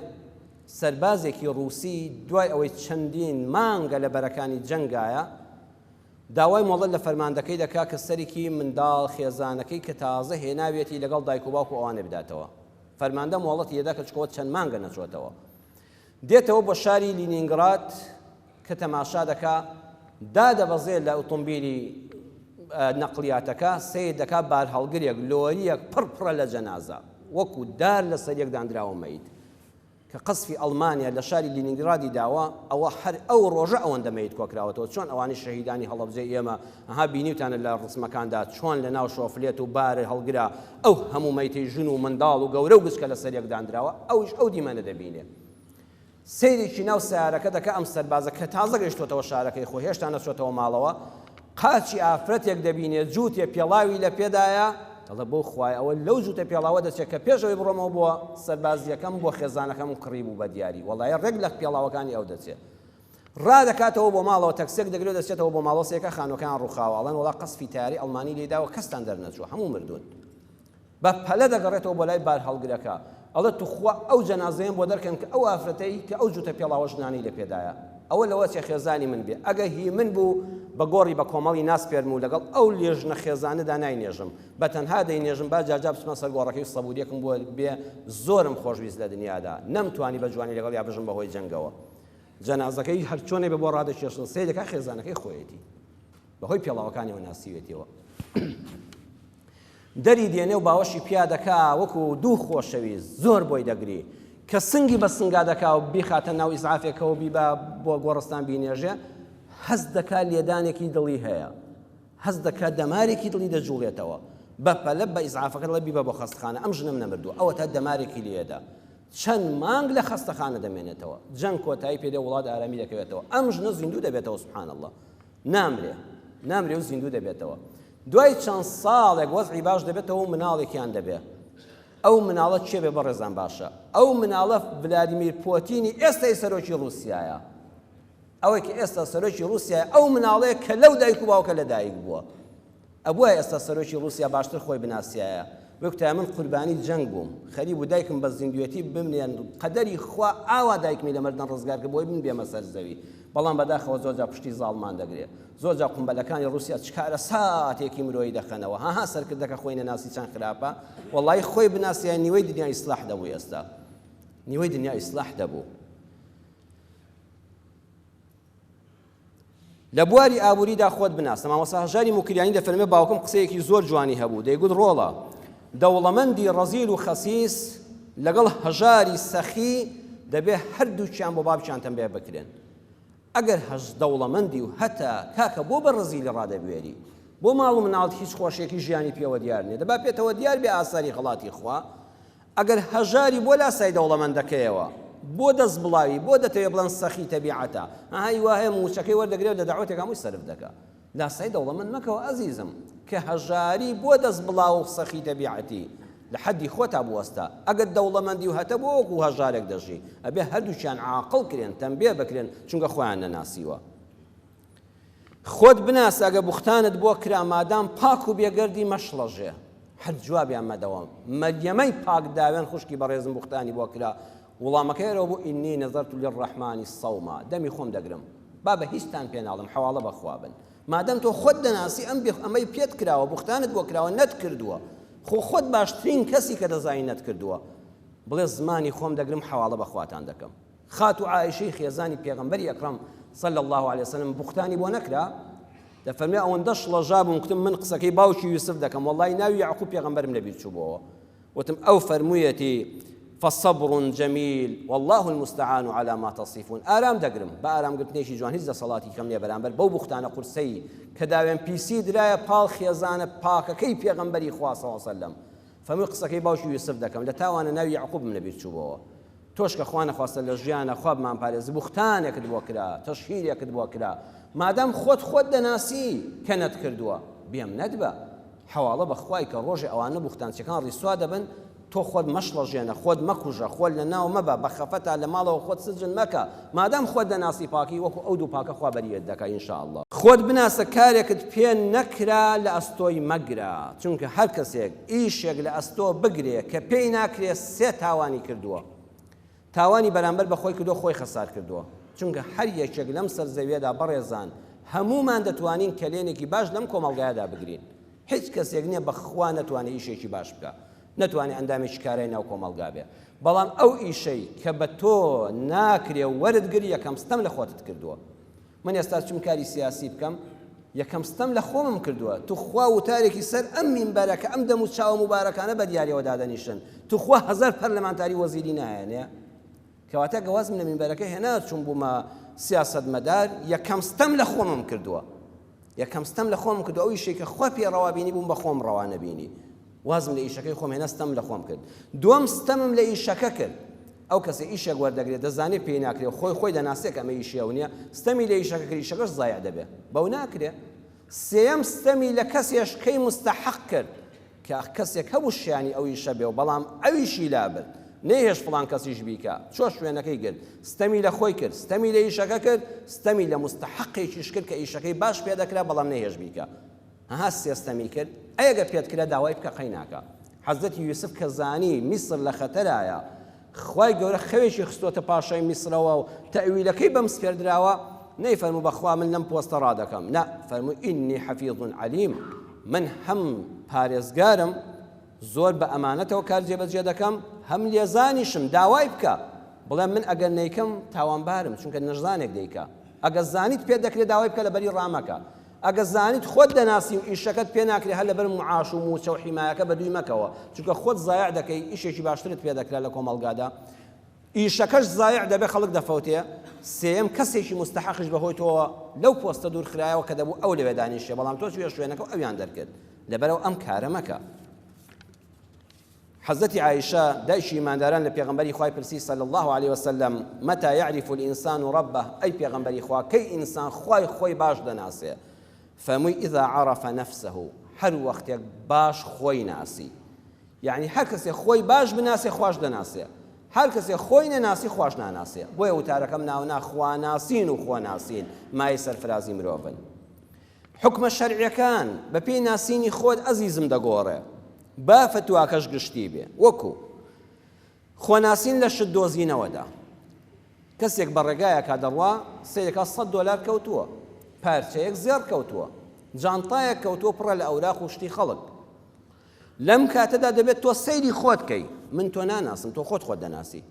سربازێکی ڕووسی دوای ئەوەی چەندین مانگە لە بەرەکانی جەنگایە داوای مۆڵەت لە فەرماندەکەی دەکا کە سەرکی منداڵ خێزانەکەی کە تازە هێناویەتی لەگەڵ دایک و باوک و ئەوانێ بداتەوە. فەرماندە مۆڵەتی دەدا کە چکۆ چەند مانگە نەچۆتەوە. دێتەوە بۆ شاری لینینگراد کە تەماشا دەکا دادەبەزێ لە ئوتومبیلی نەقلیاتەکە سیر دەکا بارهەڵگرێک لۆریەک پڕ پڕە لە جەنازە وەکو دار لەسەر یەک دانراوە مەیت. کە قەزفی ئەڵمانیا لە شاری لینینگرادی داوە ئەوە هەر ئەو ڕۆژە ئەوەندە مەیت کۆکراوەتەوە چۆن ئەوانەی شەهیدانی هەڵەبجەی ئێمە ها بینیوتانە لە ڕسمەکاندا چۆن لە ناو شۆفلێت و بار هەڵگرە ئەو هەموو مەیتەی ژن و منداڵ و گەورە و گچکە لەسەر یەک دانراوە ئەویش ئەو دیمەنە دەبینێ سەیرێکی ناو سیارەکە دەکە ئەم سەربازە کە تازە گەیشتۆتەوە شارەکەی خۆ هێشتا نەچۆتەوە ماڵەوە قاچی ئافرەتێک دەبینێ جووتێ پێڵاوی لە پێدایە، دەڵێ بەو خوایە ئەوە لەو جووتە پێڵاوە دەچێ کە پێش ئەوەی بڕۆمەوە بۆ سەربازییەکەم بۆ خێزانەکەمم کڕیبوو بە دیاری وەڵای ڕێک لە پێڵاوەکانی ئەو دەچێ ڕادەکاتەوە بۆ ماڵەوە تەکسێک دەگرێ دەچێتەوە بۆ ماڵۆسێکە خانوەکان ڕوخاوە ئەڵێن وەڵا قەسفی تاری ئەڵمانی لێداوە کەستان دەرنەچووە هەموو مردوون بە پەلە دەگەڕێتەوە بۆ لای بارهەڵگرەکە ئەڵێ توخوا ئەو جەنازەیەم بۆ دەرکەن کە ئەو ئافرەتەی کە ئەو جوتە پێڵاوە ژنانەی لە پێدایە ئەوە لەوە چێ خێزانی من بێ ئەگە هی من بوو بە گۆڕی بە کۆمەڵی ناسپێرم و لەگەڵ ئەو لێژنە خێزانەدا ناینێژم بە تەنها دەینێژم با جاجا بچمە سەر گۆڕەکەی سەبوریەکم بۆ بێ زۆرم خۆشویست لە دنیادا نەمتوانی بە جوانی لەگەڵ یا بژم بەهۆی جەنگەوە جەنازەکەی هەرچۆنێ بە بۆ ڕادەکێشن سەیرەکە خێزانەکەی خۆیەتی بەهۆی پێڵاوەکانیەوە ناسیوێتیەوە دەری دێنێ و باوەشی پیا دەکا وەکو دوو خۆشەویست زۆر بۆی دەگری کە سنگی بە سنگا دەکا و بیخاتە ناو ئیسعافێکەوە بیبا بۆ گۆڕستان بینێژێ هەست دەکا لێدانێکی دڵی هەیە هەست دەکا دەمارێکی دڵی دەجوڵێتەوە بە پەلە بە ئیزعافەکە لە بیبە بۆ خەستخانە ئەم ژنم نەمردوو ئەوە تا دەمارێکی لێدا چەند مانگ لە خەستەخانە دەمێنێتەوە جەنگ کۆتایی پێدە وڵات ئارامی دەکەوێتەوە ئەم ژنە زیندوو دەبێتەوە سبحان الله نامرێ نامرێ و زیندوو دەبێتەوە دوای چەند ساڵێک وەزعی باش دەبێتەوە و مناڵێکیان دەبێت ئەو مناڵە چێ بێ بەڕێزان باشە ئەو مناڵە ولادیمیر پۆتینی ئێستای سەرۆکی رووسایە ئەوەی کە ئێستا سەرۆکی رووسیا ئەو مناڵەیە کە لەو دایک و باوکە لە دایک بووە ئەبوایە ئێستا سەرۆکی ڕوسیا باشتر خۆی بناسیایە وکتایە من قوربانی جەنگ بووم خەریک بوو دایکم بە زیندوێتی بمنێن قەدەری خوا ئاوا دایکمی لە مردن ڕزگار کرد بۆی من بێمە سەر زەوی بەڵام بەداخەوە زۆرجار پشتی زاڵمان دەگرێ زۆرجار قومبەلەکانی ڕوسیا چ کارەساتێکی مرۆیی دەخەنەوە هەها سەرکردەکە خۆی نەناسی چەند خراپە وەڵای خۆی بناسیایە نیوەی دنیا ئیسلاح دەبوو ئێستا نیوەی دنیا ئیسلاح دەبوو لە بواری ئابووریدا خۆت بناسە مامۆستا هەژاری موکریانی دەفەرمێ باوکم قسەیەکی زۆر جوانی هەبوو دەیگوت ڕۆڵە دەوڵەمەندی ڕەزیل و خەسیس لەگەڵ هەژاری سەخی دەبێ هەردووکیان بۆ بابچیان تەمبێ بکرێن ئەگەر هەز دەوڵەمەندی و هەتا کاکە بۆ بە ڕزیلی ڕادەبوێری بۆ ماڵ و مناڵت هیچ خۆشێکی ژیانی پێوە دیار نیە دەبا پێتەوە دیار بێ ئاساری خڵاتی خوا ئەگەر هەژاری بۆ لاسای دەوڵەمەندەکەیەوە بۆ دەست بڵاوی بۆ دەتەوێ بڵێن سەخی تەبیعەتە ها هی واهەیە مووچەکەی وەردەگرێ و لە دەعوەتێک هەمووی سەرف دەکا لاسای دەوڵەمەند مەکەوە ئەزیزم کە هەژاری بۆ دەست بڵاو و سەخی تەبیعەتی لە حەدی خۆتا بوەستە ئەگەر دەوڵەمەندی و هەتە بۆ وەکو هەژارێک دەژی ئەبێ هەردووچیان عاقڵ کرێن تەمبێ بکرێن چونکە خۆیان نەناسیوە خۆت بناسە ئەگە بوختانت بۆ کرا مادام پاک و بێگەردی مەشڵەژێ هەر جوابیان مەدەوە مەریەمەی پاک داوێن خوشکی بەڕێزم بوختانی بۆ کرا وڵامەکەی ئەرەوە بوو ئینی نەزەرت للرحمن صوما دەمی خۆم دەگرم با بە هیچتان پێ ناڵم حەواڵە بەخوا بن مادەم تۆ خۆت دەناسی ئەم بێخ ئەمەی پێت کراوە بوختانت بۆ کراوە نەت کردووە خۆ خۆت باشترین کەسی کە دەزانی نەت کردووە بڵێ زمانی خۆم دەگرم حەواڵە بەخواتان دەکەم خاتوو عائیشەی خێزانی پێغەمبەری ئەکرەم صلی اللە علیە وسلم بوختانی بۆ نەکرا دەفەرمێ ئەوەندە شڵەژا بووم کوتم من قسەکەی باوکی یوسف دەکەم وەڵی ناوی یعقوب پێغەمبەرم لەبیر چووبەوە وتم ئەو فەرموویەتی فصبر جميل والله المستعان على ما تصفون ئارام دەگرم بە ئارامگرتنێکی جوان هیچ دەسەڵاتی کەم نیە بەرامبەر بەو بوختانە قورسەی کە داوێن پیسی درایە پاڵ خێزانە پاکەکەی پێغەمبەری خواصەوە سەلم فەرمووی قسەکەی باوکی یوسف دەکەم لە تاوانە ناوی یعقوبم لەبیر چووبەوە تۆش کە خوا نەخواستە لە ژیانا خوا بمانپارێزی بوختانێکت بۆ کرا تەشهیرێکت بۆ کرا مادام خۆت خۆت دەناسی کە نەتکردووە بێم نەتبە حەواڵە بە خوای کە ڕۆژێ ئەوانە بوختانچیەکان ڕیسوا دەبن تۆ خۆت مەشڵەژێنە خۆت مەکوژە خۆت لە ناو مەبە بە خەفەتا لە ماڵەوە خۆت سجن مەکە مادام خۆت دەناسی پاکی وەکو ئەو دوو پاکە خوا بەریت دەکا ان شاء اللە خۆت بناسە کارێکت پێ نەکرا لە ئەستۆی مەگرە چونکە هەر کەسێک ئیشێک لە ئەستۆ بگرێ کە پێی ناکرێ سێ تاوانی کردووە تاوانی بەرامبەر بە خۆی کردووە خۆی خەسار کردووە چونکە هەر یەکێک لەم سەر زەویەدا بەڕێزان هەموومان دەتوانین کەلێنێکی باش لەم کۆمەڵگایەدا بگرین هیچ کەسێک نییە بەخوا نەتوانێ ئیشێکی باش بکە نەتوانێ ئەندامێکی کارای ناو کۆمەڵگا بێ بەڵام ئەو ئیشەی کە بە تۆ ناکرێ وەرت گر یەکەم ستەم لە خۆتت کردووە من ئێستا چون کاری سیاسی بکەم یەکەم ستەم لە خۆمم کردووە توخوا وتارێکی سەر ئەم مینبەرە کە ئەم دەم و چاوە مبارەکانە بە دیارەوە دادەنیشن توخوا هزار پەرلەمانتاری وەزیری نایەنێ کەواتە گەوازم لە مینبەرەکە هێنا چون بوومە سیاست مەدار یەکەم ستەم لە خۆمم کردووە یەکەم ستەم لە خۆم کردو ئەو یشێکە خوا پێ ڕەوابینی بووم بە خۆم ڕەوانەبینی وازم لە ئیشەکەی خۆم هێنا ستەمم لە خۆم کرد دووەم ستەمم لە ئیشەکە کرد ئەو کەسە ئیشێک وەردەگرێت دەزانێت پێی ناکرێ و خۆی خۆی دەناسێت کە ئەمە ئیشی ئەو نییە ستەمی لە ئیشەکە کرد ئیشەکەش زایع دەبێت بەو ناکرێ سێەم ستەمی لە کەسێش کەی مستەحق کرد کە کەسێک هەبوو شیانی ئەو ئیشە بێ و بەڵام ئەویشی لابرد نەهێش فڵان کەسیش بیکە چۆ شوێنەکەی گرت ستەمی لە خۆی کرد ستەمی لە ئیشەکە کرد ستەمی لە مستەحقێکیش کرد کە ئیشەکەی باش پێ دەکرا بەڵام نەهێش بیکە ئەها سێستەمی کرد ئەی گەر پێت کرا داوای بکە قەیناکە حەزرەتی یوسف کە زانی میسر لە خەتەرایە خوای گەورە خەوێکی خستۆتە پاشای میسرەوە و تەویلەکەی بەم سپێردراوە نەی فەرموو بەخوا من لەم پۆستە ڕادەکەم نا فەرموو ئینی حەفیظ علیم من هەم پارێزگارم زۆر بە ئەمانەتەوە کار جێبەجێ دەکەم هەم لێزانیشم داوای بکە بڵێ من ئەگەر نیکەم تاوانبارم چونکە نەژزانێک دیکە ئەگەر زانیت پێ دەکرێت داوای بکە لە بەری ڕامەکە ئەگە زانیت خۆت دەناسی و ئیشەکەت پێ ناکرێ هەر لەبەر معاش و موچە و حیمایەکە بەدووی مەکەوە چونکە خۆت زایع دەکەی ئیشێکی باشترت پێ دەکرا لە کۆمەڵگادا ئیشەکەش زایع دەبێ خەڵک دەفەوتێ سێیەم کەسێکی مستحقیش بەهۆی تۆوە لەو پۆستە دوور خرایەوە کە دەبوو ئەو لەوێ دانیشێ بەڵام تۆ چوویە شوێنەکە و ئەویان دەرکرد لەبەرەوە ئەم کارە مەکە حەزرەتی عائیشە دایکی ئیمانداران لە پێغەمبەری خوای پرسی صلی اللە علیە وسلم، متی یعرف الانسان ربه، ئەی پێغەمبەری خوا کەی ئینسان خوای خۆی باش دەناسێ؟ فەرمووی، اذا عرف نفسه، هەر وەختێک باش خۆی ناسی. یەعنی هەر کەسێ خۆی باش بناسێ خواش دەناسێ. هەر کەسێ خۆی نەناسی خواش ناناسێ. بۆیە وتارەکەم ناونا خواناسین و خۆناسین مایەی سەرفرازی مرۆڤن. حوکمە شەرعیەکان بە پێی ناسینی خۆت ئەزیزم دەگۆڕێ با فتواکەش گشتی بێ وەکو خۆناسین لە شت دۆزینەوەدا کەسێک بە ڕێگایەکە دەڕوا سیرەکە 100 دلار کەوتووە پارچەیەک زێڕ کەوتووە جانتایەک کەوتووە پڕە لە ئەوراق و شتی خەڵک لەم کاتەدا دەبێت تۆ سەیری خۆت کەی، من تۆ ناناسم، تۆ خۆت خۆت دەناسی.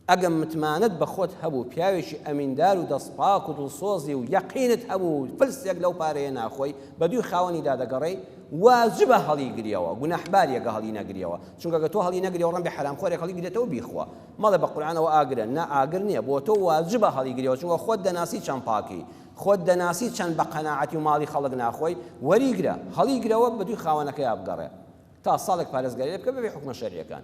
ئەگەم متمانەت بە خۆت هەبوو، پیاوێکی ئەمیندار و دەست پاک و دڵسۆزی و یەقینت هەبوو و فلسێک لەو پارەیە ناخۆی، بە دووی خاوەنی دادەگەڕێی، واجبە هەڵیگریەوە، گوناحباریە گە هەڵینەگریەوە، چونکە گە تۆ هەڵینەگریەوە ڕەنگە حەرامخۆرێک هەڵیگرێتەوە بیخوا. مەڵێ بە قورعان ئەوە ئاگرە، نا ئاگر نیە، بۆ تۆ واجبە هەڵیگریەوە، چونکە خۆت دەناسی چەند پاکی، خۆت دەناسی چەند بە قەناعەتی و ماڵی خەڵک ناخۆی، وەریگرە، هەڵیگرەوە بەدووی خاوەنەکەیا بگەڕێ تا ساڵێک پارێزگاری لێ بکە بەبێ حوکمە شەرعیەکان.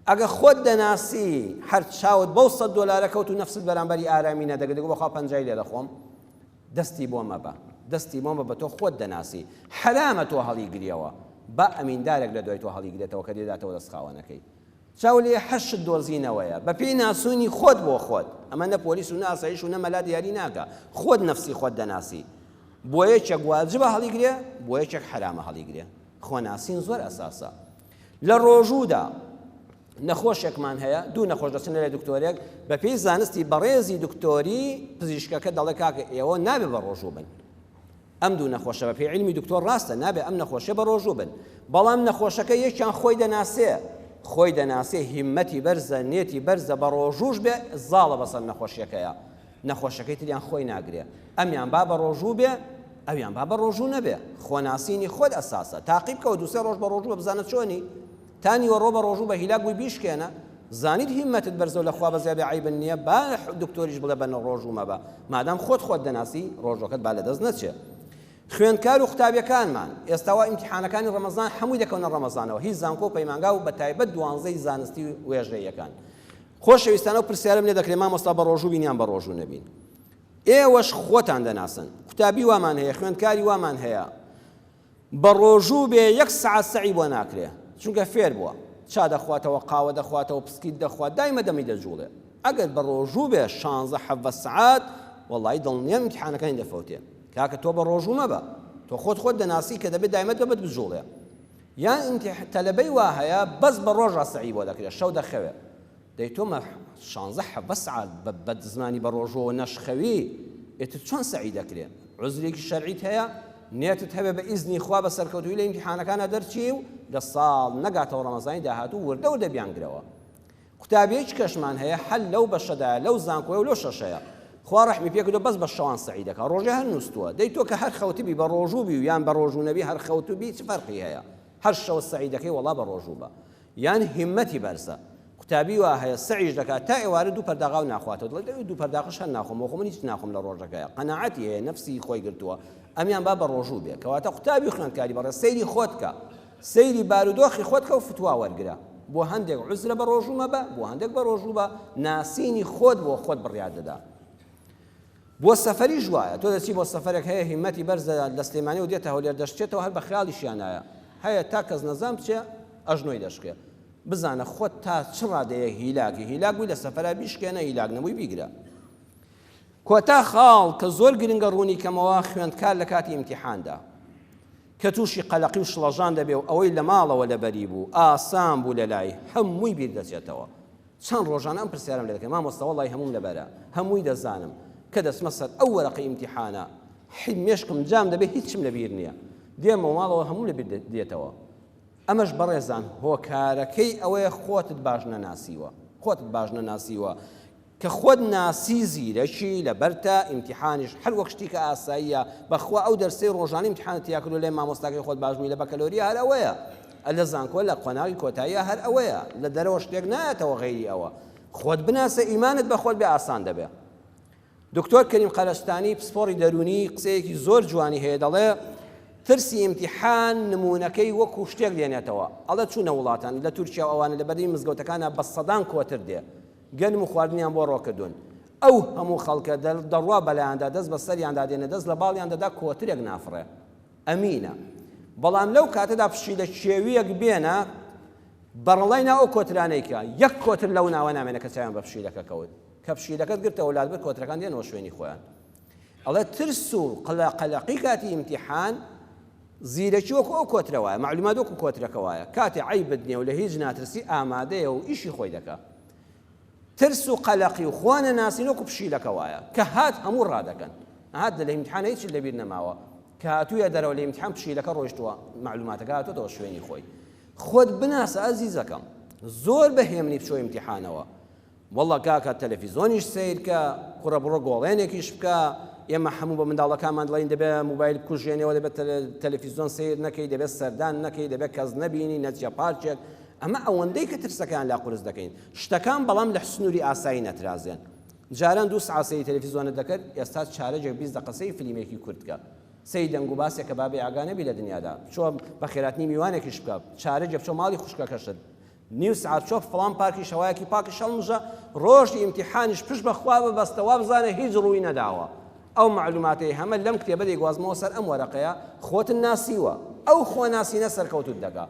ئەگە خۆت دەناسی هەر چاوت بەو سەد دۆلارە کەوت و نەفست بەرامبەری ئارامی نەدەگرت گو بخوا پەنجای لێ دەخۆم. دەستی بۆ مەبە. دەستی بۆ مەبە تۆ خۆت دەناسی. حەرامە تۆ هەڵیگریەوە. با ئەمیندارێک لەدوای تۆ هەڵیگرێتەوە کە دێداتەوە دەست خاوەنەکەی. چاو لێ حەشت دۆزینەوەیە بە پێی ناسوونی خۆت بۆ خۆت ئەمە نە پۆلیس و نە ئاسایش و نە مەلا دیاری ناکا خۆت نەفسی خۆت دەناسی بۆ یەکێک واجبە هەڵیگرێ بۆ یەکێک حەرامە هەڵیگرێ خۆ ناسین زۆر ئەساسە لە ڕۆژوودا نەخۆشێکمان هەیە دوو نەخۆش دەچن لە دکتۆرێک بە پێی زانستی بەڕێزی دکتۆری پزیشکەکە دەڵێ کاکە ئێوە نابێ بە ڕۆژوو بن ئەم دوو نەخۆشە بە پێی عیلمی دکتۆر ڕاستە نابێ ئەم نەخۆشە بە ڕۆژوو بن بەڵام نەخۆشەکە یەکیان خۆی دەناسێ خۆی دەناسێ هیمەتی بەرزە نێتی بەرزە بە ڕۆژوش بێ زاڵە بەسەر نەخۆشیەکەیە نەخۆشەکەی تریان خۆی ناگرێ ئەمیان با بە ڕۆژوو بێ ئەویان با بە ڕۆژوو نەبێ خۆناسینی خۆت ئەساسە تاقیب کەەوە دوسێ ڕۆژ بە ڕۆژوە بزانە چۆنی تا نیوەڕۆ بە ڕۆژوو بە هیلاک بووی بیشکێنە زانیت هیمەتت بەرزەو لە خوا بەزیادە عەیبن نیە با دکتۆریش بڵێ بە ڕۆژوو مەبە مادام خۆت خۆت دەناسی ڕۆژوەکەت با لەدەست نەچێ خوێندکارو قوتابیەکانمان ئێستا وا ئیمتیحانەکانی ڕەمەزان حەمووی دەکەونە ڕەمەزانەوە هیچ زانکۆ و پەیمانگا و بەتایبەت دوانزەی زانستی و وێژەیەکان خۆشەویستانە و پرسیارم لێ دەکرێ مامۆستا بە ڕۆژوو بینیان بە ڕۆژوو نەبین ئێوەش خۆتان دەناسن قوتابی وامان هەیە خوێندکاری وامان هەیە بەڕۆژوو بێ یەک سەعات سەعی بۆ ناکرێ چونکە فێر بوە چا دەخواتەوە قاوە دەخواتەوە پسکیت دەخوات دایمە دەمی دەجوڵێ ئەگەر بەڕۆژوو بێ شانزە حەڤە سەعات وەڵای دڵنیام ئیمتیحانەکانی دەفەوتێ کاکە تۆ بەڕۆژوو مەبە تۆ خۆت خۆت دەناسی کە دەبێ دایمە دەمت بجوڵێ یان ئیمتیح تەلەبەی وا هەیە بەس بەڕۆژا سەعی بۆ دەکرێ شەو دەخەوێ دەی تۆ مە شانزە حەڤە سعات بە بەد زمانی بە ڕۆژووەوە نەشخەوی ئێتر چۆن سەعی دەکرێ؟ عوزرێکی شەرعیت هەیە نێتت هەبێ بە ئیزنی خوا بە سەرکەوتووی لە ئیمتیحانەکانا دەرچی و لە ساڵ نەگاتەوە ڕەمەزانی داهاتوو وردە وردە بیانگرەوە قوتابیەیچ کەشمان هەیە حەل لەو بەشەدایە لەو زانکۆیە و لۆ شەشەیە خوا ڕەحمی پێکردو بەس بە شەوان سەعی دەکا ڕۆژێ هەر نووسوە دەی تۆ کە هەر خەوتبی بە ڕۆژوو بی و یان بە ڕۆژوو نەبی هەر خەوتبی چ فەرقی هەیە هەر شەوە سەعی دەکەی وەڵا بە ڕۆژوو بە یان هیمەتی بەرزە قوتابی وا هەیە سەعیش دەکات تا ئێوارە دوو پەرداغاو ناخواتەوە دڵێت ئەوی دوو پەرداغش هەر ناخۆم وەخۆ من هیچ ناخۆم لە ڕۆژەکەیە قەناعەتی هەیە نەفسی خۆی گرتووە ئەمیان با بە ڕۆژوو بێ کەواتە قوتابی خوێندکاری بەڕێ سەیری خۆت کە سەیری بارودۆخی خۆت کە و فتوا وەرگرە بۆ هەندێک عزرە بە ڕۆژوو مەبە بۆ هەندێک بە ڕۆژوو بە ناسینی خۆت بۆ خۆت بڕیار دەدا بۆ سەفەریش وایە تۆ دەچی بۆ سەفەرێک هەیە هیمەتی بەرزە لە سلێمانیەوە دێتە هەولێر دەشکێتەوە هەر بە خەیاڵیشیانایە هەیە تا کەس نەزان بچێ ئەژنۆی دەشکێ بزانە خۆت تا چ ڕادەیە هیلاکی هیلاک بووی لە سەفەرا بیشکێنە هیلاک نەبووی بیگرە کۆتا خاڵ کە زۆر گرنگە ڕوونی کەمەوە خوێندکار لە کاتی ئیمتیحاندا کە تووشی قەلەقی و شڵەژان دەبێ و ئەوەی لە ماڵەوە لەبەری بوو ئاسان بوو لە لای هەمووی بیر دەچێتەوە چەند ڕۆژانە ئەم پرسیارەم لێ دەکەن مامۆستا وەڵای هەمووم لەبەرە هەمووی دەزانم کە دەچمە سەر ئەو وەرەقەی ئیمتیحانە حی مێشکم جام دەبێ هیچم لەبیر نییە دێمەوە ماڵەوە هەموو لەبیر دێتەوە ئەمەش بەڕێزان هۆکارەکەی ئەوەیە خۆتت باش نەناسیوە خۆتت باش نەناسیوە کە خۆت ناسی زیرەکی لەبەرتە ئیمتحانیش هەر وەک شتیکە ئاساییە بەخوا ئەو دەرسەی ڕۆژانی امتحانە تیاکردو لای مامۆستاکەی خۆت باشبووی لە بەکەلۆریا هەر ئەوەیە اللە زانکۆ لە قۆناغی کۆتاییە هەر ئەوەیە لە دەرەوە شتێک نایەتەوە غەیری ئەوە خۆت بناسە ئیمانت بە خۆت بێ ئاسان دەبێ دکتۆر کەریم قەرەستانی پسپۆڕی دەروونی قسەیەکی زۆر جوانی هەیە دەڵێ ترسی ئیمتیحان نمونونەکەی وەکو شتێک دێنێتەوە ئەڵە چوونە وڵاتان لە تورکیا ئەوانە لە بەردەی مزگەوتەکانە بە سەدان کۆتر دێ گەنم و خواردنیان بۆ ڕۆکردون ئەو هەموو خەڵکە دەڕوا بەلایاندا دەست بە سەریاندا دێنە دەست لە باڵیان دەدا کۆترێک نافڕێ ئەمینە، بەڵام لەو کاتەدا پشیلە کێوییەک بێنە بەڕەڵای ناو ئەو کۆترانەی کە یەک کۆتر لەو ناوە نامێنێ کە چاویان بە پشیلەکە کەوت، کە پشیلەکەت گرتەوە لات برد کۆترەکان دێنەوە شوێنی خۆیان. ئەڵێ ترس و قەلەقی کاتی ئیمتیحان زیرەکی وەکو ئەو کۆترە وایە، مەعلومات وەکو کۆترەکە وایە، کاتێ عەیبت نییە و لە هیچ ناترسی ئامادەیە و ئیشی خۆی دەکا. ترس و قەلەقی و خوا نەناسین وەکو پشیلەکە وایە کە هات هەموو ڕادەکەن هات لە ئیمتحان هیچی لەبیر نەماوە کە هاتوویە دەرەوە لە ئیمتحان پشیلەکە ڕۆیشتووە معلوماتەکە هاتووەتەوە شوێنی خۆی خۆت بناسە ئەزیزەکەم زۆر بە هێمنی بچۆ ئیمتحانەوە والله کاکە تەلەفیزۆنیش سیرکە کوڕە بڕۆ گۆڵێنێکیش بکە ئێمە هەموو بە منداڵەکانمان دڵین دەبێت موبایل کوژێنەوە دەبێت تەلەفیزۆن سیر نەکەی دەبێت سەردان نەکەی دەبێت کەس نەبینی نەچە پارچێک ئەمە ئەوەندەی کە ترسەکەیان لا قورس دەکەین شتەکان بەڵام لە سنوری ئاسایی نەترازێن جاران دوو سعات سەیری تەلەفیزۆنت دەکرد ئێستا چارەجێک بیست دەقە سەیری فلیمێکی کورت بکە سەیری دەنگ و باسێک کە بابێ ئاگا نەبی لە دنیادا چۆ بە خێراتنی میوانێکیش بکە چارەجێ بچۆ ماڵی خوشکەکەشت نیو سعات چۆ فڵان پارکی شەوایەکی پاکی شەڵمژە ڕۆژی ئیمتیحانیش پشت بەخوا ببەستە وا بزانە هیچ ڕووی نەداوە ئەو معلوماتەی هەمە لەم کتێبە دەیگوازمەوە سەر ئەم وەرەقەیە خۆتن ناسیوە ئەو خۆناسینە سەرکەوتوت دەکا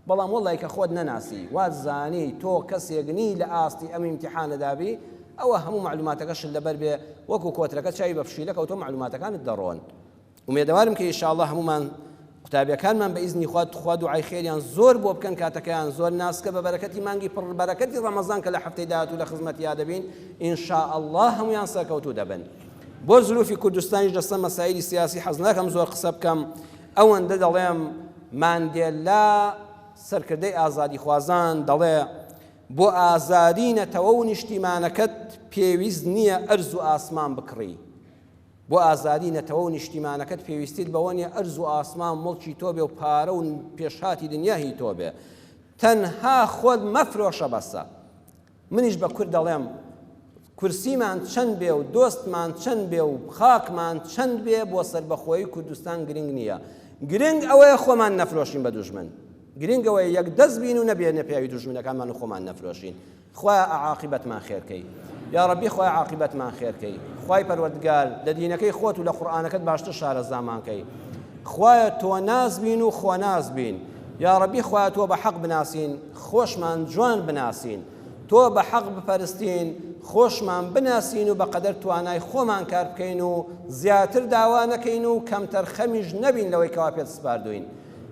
بەڵام وەڵای کە خۆت نەناسی وات زانی تۆ کەسێک نی لە ئاستی ئەم ئیمتیحانەدا بی ئەوە هەموو مەعلوماتەکە شت لەبەر بێ وەکو کۆترەکە چاوی بە فشیلە کەوتوە مەعلوماتەکانت دەڕۆن ئومێدەوارم کە ئیشاڵڵا هەمومان قوتابیەکانمان بە ئیزنی خوا تخوا دوعای خێریان زۆر بۆ بکەن کاتەکەیان زۆر ناسکە بە بەرەکەتی مانگی پڕ بەرەکەتی ڕەمەزان کە لە هەفتەی داهاتوو لە خزمەتیا دەبین ئینشاءاللە هەمویان سەرکەوتوو دەبن بۆ زروفی کوردستانیش لەسەر مەسایلی سیاسی حەز ناکەم زۆر قسە بکەم ئەوەندە دەڵێم ماندێلا سەرکردەی ئازادیخوازان دەڵێ بۆ ئازادی نەتەوە و نیشتیمانەکەت پێویست نییە ئەرز و ئاسمان بکڕی بۆ ئازادی نەتەوە و نیشتیمانەکەت پێویستیت بەوە نیە ئەرز و ئاسمان مڵکی تۆ بێ و پارە و پێشهاتی دنیاهی تۆ بێ تەنها خۆت مەفرۆشە بەسە منیش بە کورد دەڵێم کورسیمان چەند بێ و دۆستمان چەند بێ و خاکمان چەند بێ بۆ سەربەخۆیی کوردستان گرنگ نییە گرنگ ئەوەیە خۆمان نەفرۆشین بە دوژمن گرنگەوەی یەک دەست بین و نەبێنە پیاوی دوژمنەکانمان و خۆمان نەفرۆشین خۆیان عاقیبەتمان خێرکەی یا ڕەبی خۆی عاقیبەتمان خێرکەی خی پەروەردگار لە دینەکەی خۆت و لە قورآانەکەت باشتر شارەزامانکەی خوایە تۆ نازبین و خۆ نازبین یا ڕەبی خواتوە بە حەق بناسین خۆشمان جوان بناسین تۆ بە حەق بپەرستین، خۆشمان بناسین و بەقەدەر توانای خۆمان کار بکەین و زیاتر داوا نەکەین و کەمتەر خەمیش نەبین لەوەی کەوا پێت سپاردووین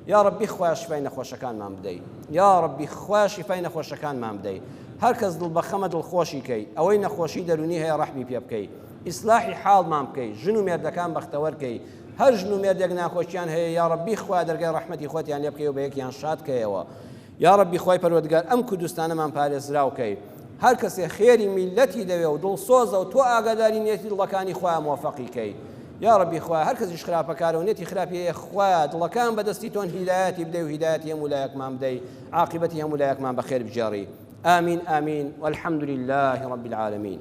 یاڕەبی خوایە شیفای نەخۆشەکانمان بدەی یاڕەبی خوایە شیفای نەخۆشەکانمان بدەی هەرکەس دڵ بەخەمە دڵخۆشی کەی ئەوەی نەخۆشی دەرونی هەیە ڕەحمی پێ بکەی ئیسلاحی حاڵمان بکەی ژن و مێردەکان بەختەوەر کەی هەر ژن و مێردێک ناخۆشیان هەیە یا ڕەبی خوا دەرگای ڕەحمەتی خۆتیان لێ بکەیەوە بە یەکیان شاد کەیەوە یا ڕەبی خوای پەروەردگار ئەم کوردستانەمان پارێزراو کەی هەر کەسێ خێری میلەتی دەوێ و دڵسۆزە و تۆ ئاگاداری نیەتی دڵەکانی خۆیان مۆفەقی کەی یا ڕەبی خوا هەر کەسیش خراپەکارە و نێتی خراپیە خوا دڵەکان بەدەستی تۆن هیدایەتی بدەی و هیدایەتی هەموو لایەکمان بدەی عاقبەتی هەموو لایەکمان بەخێر بجێڕی آمین آمین والحمد لله رب العالمين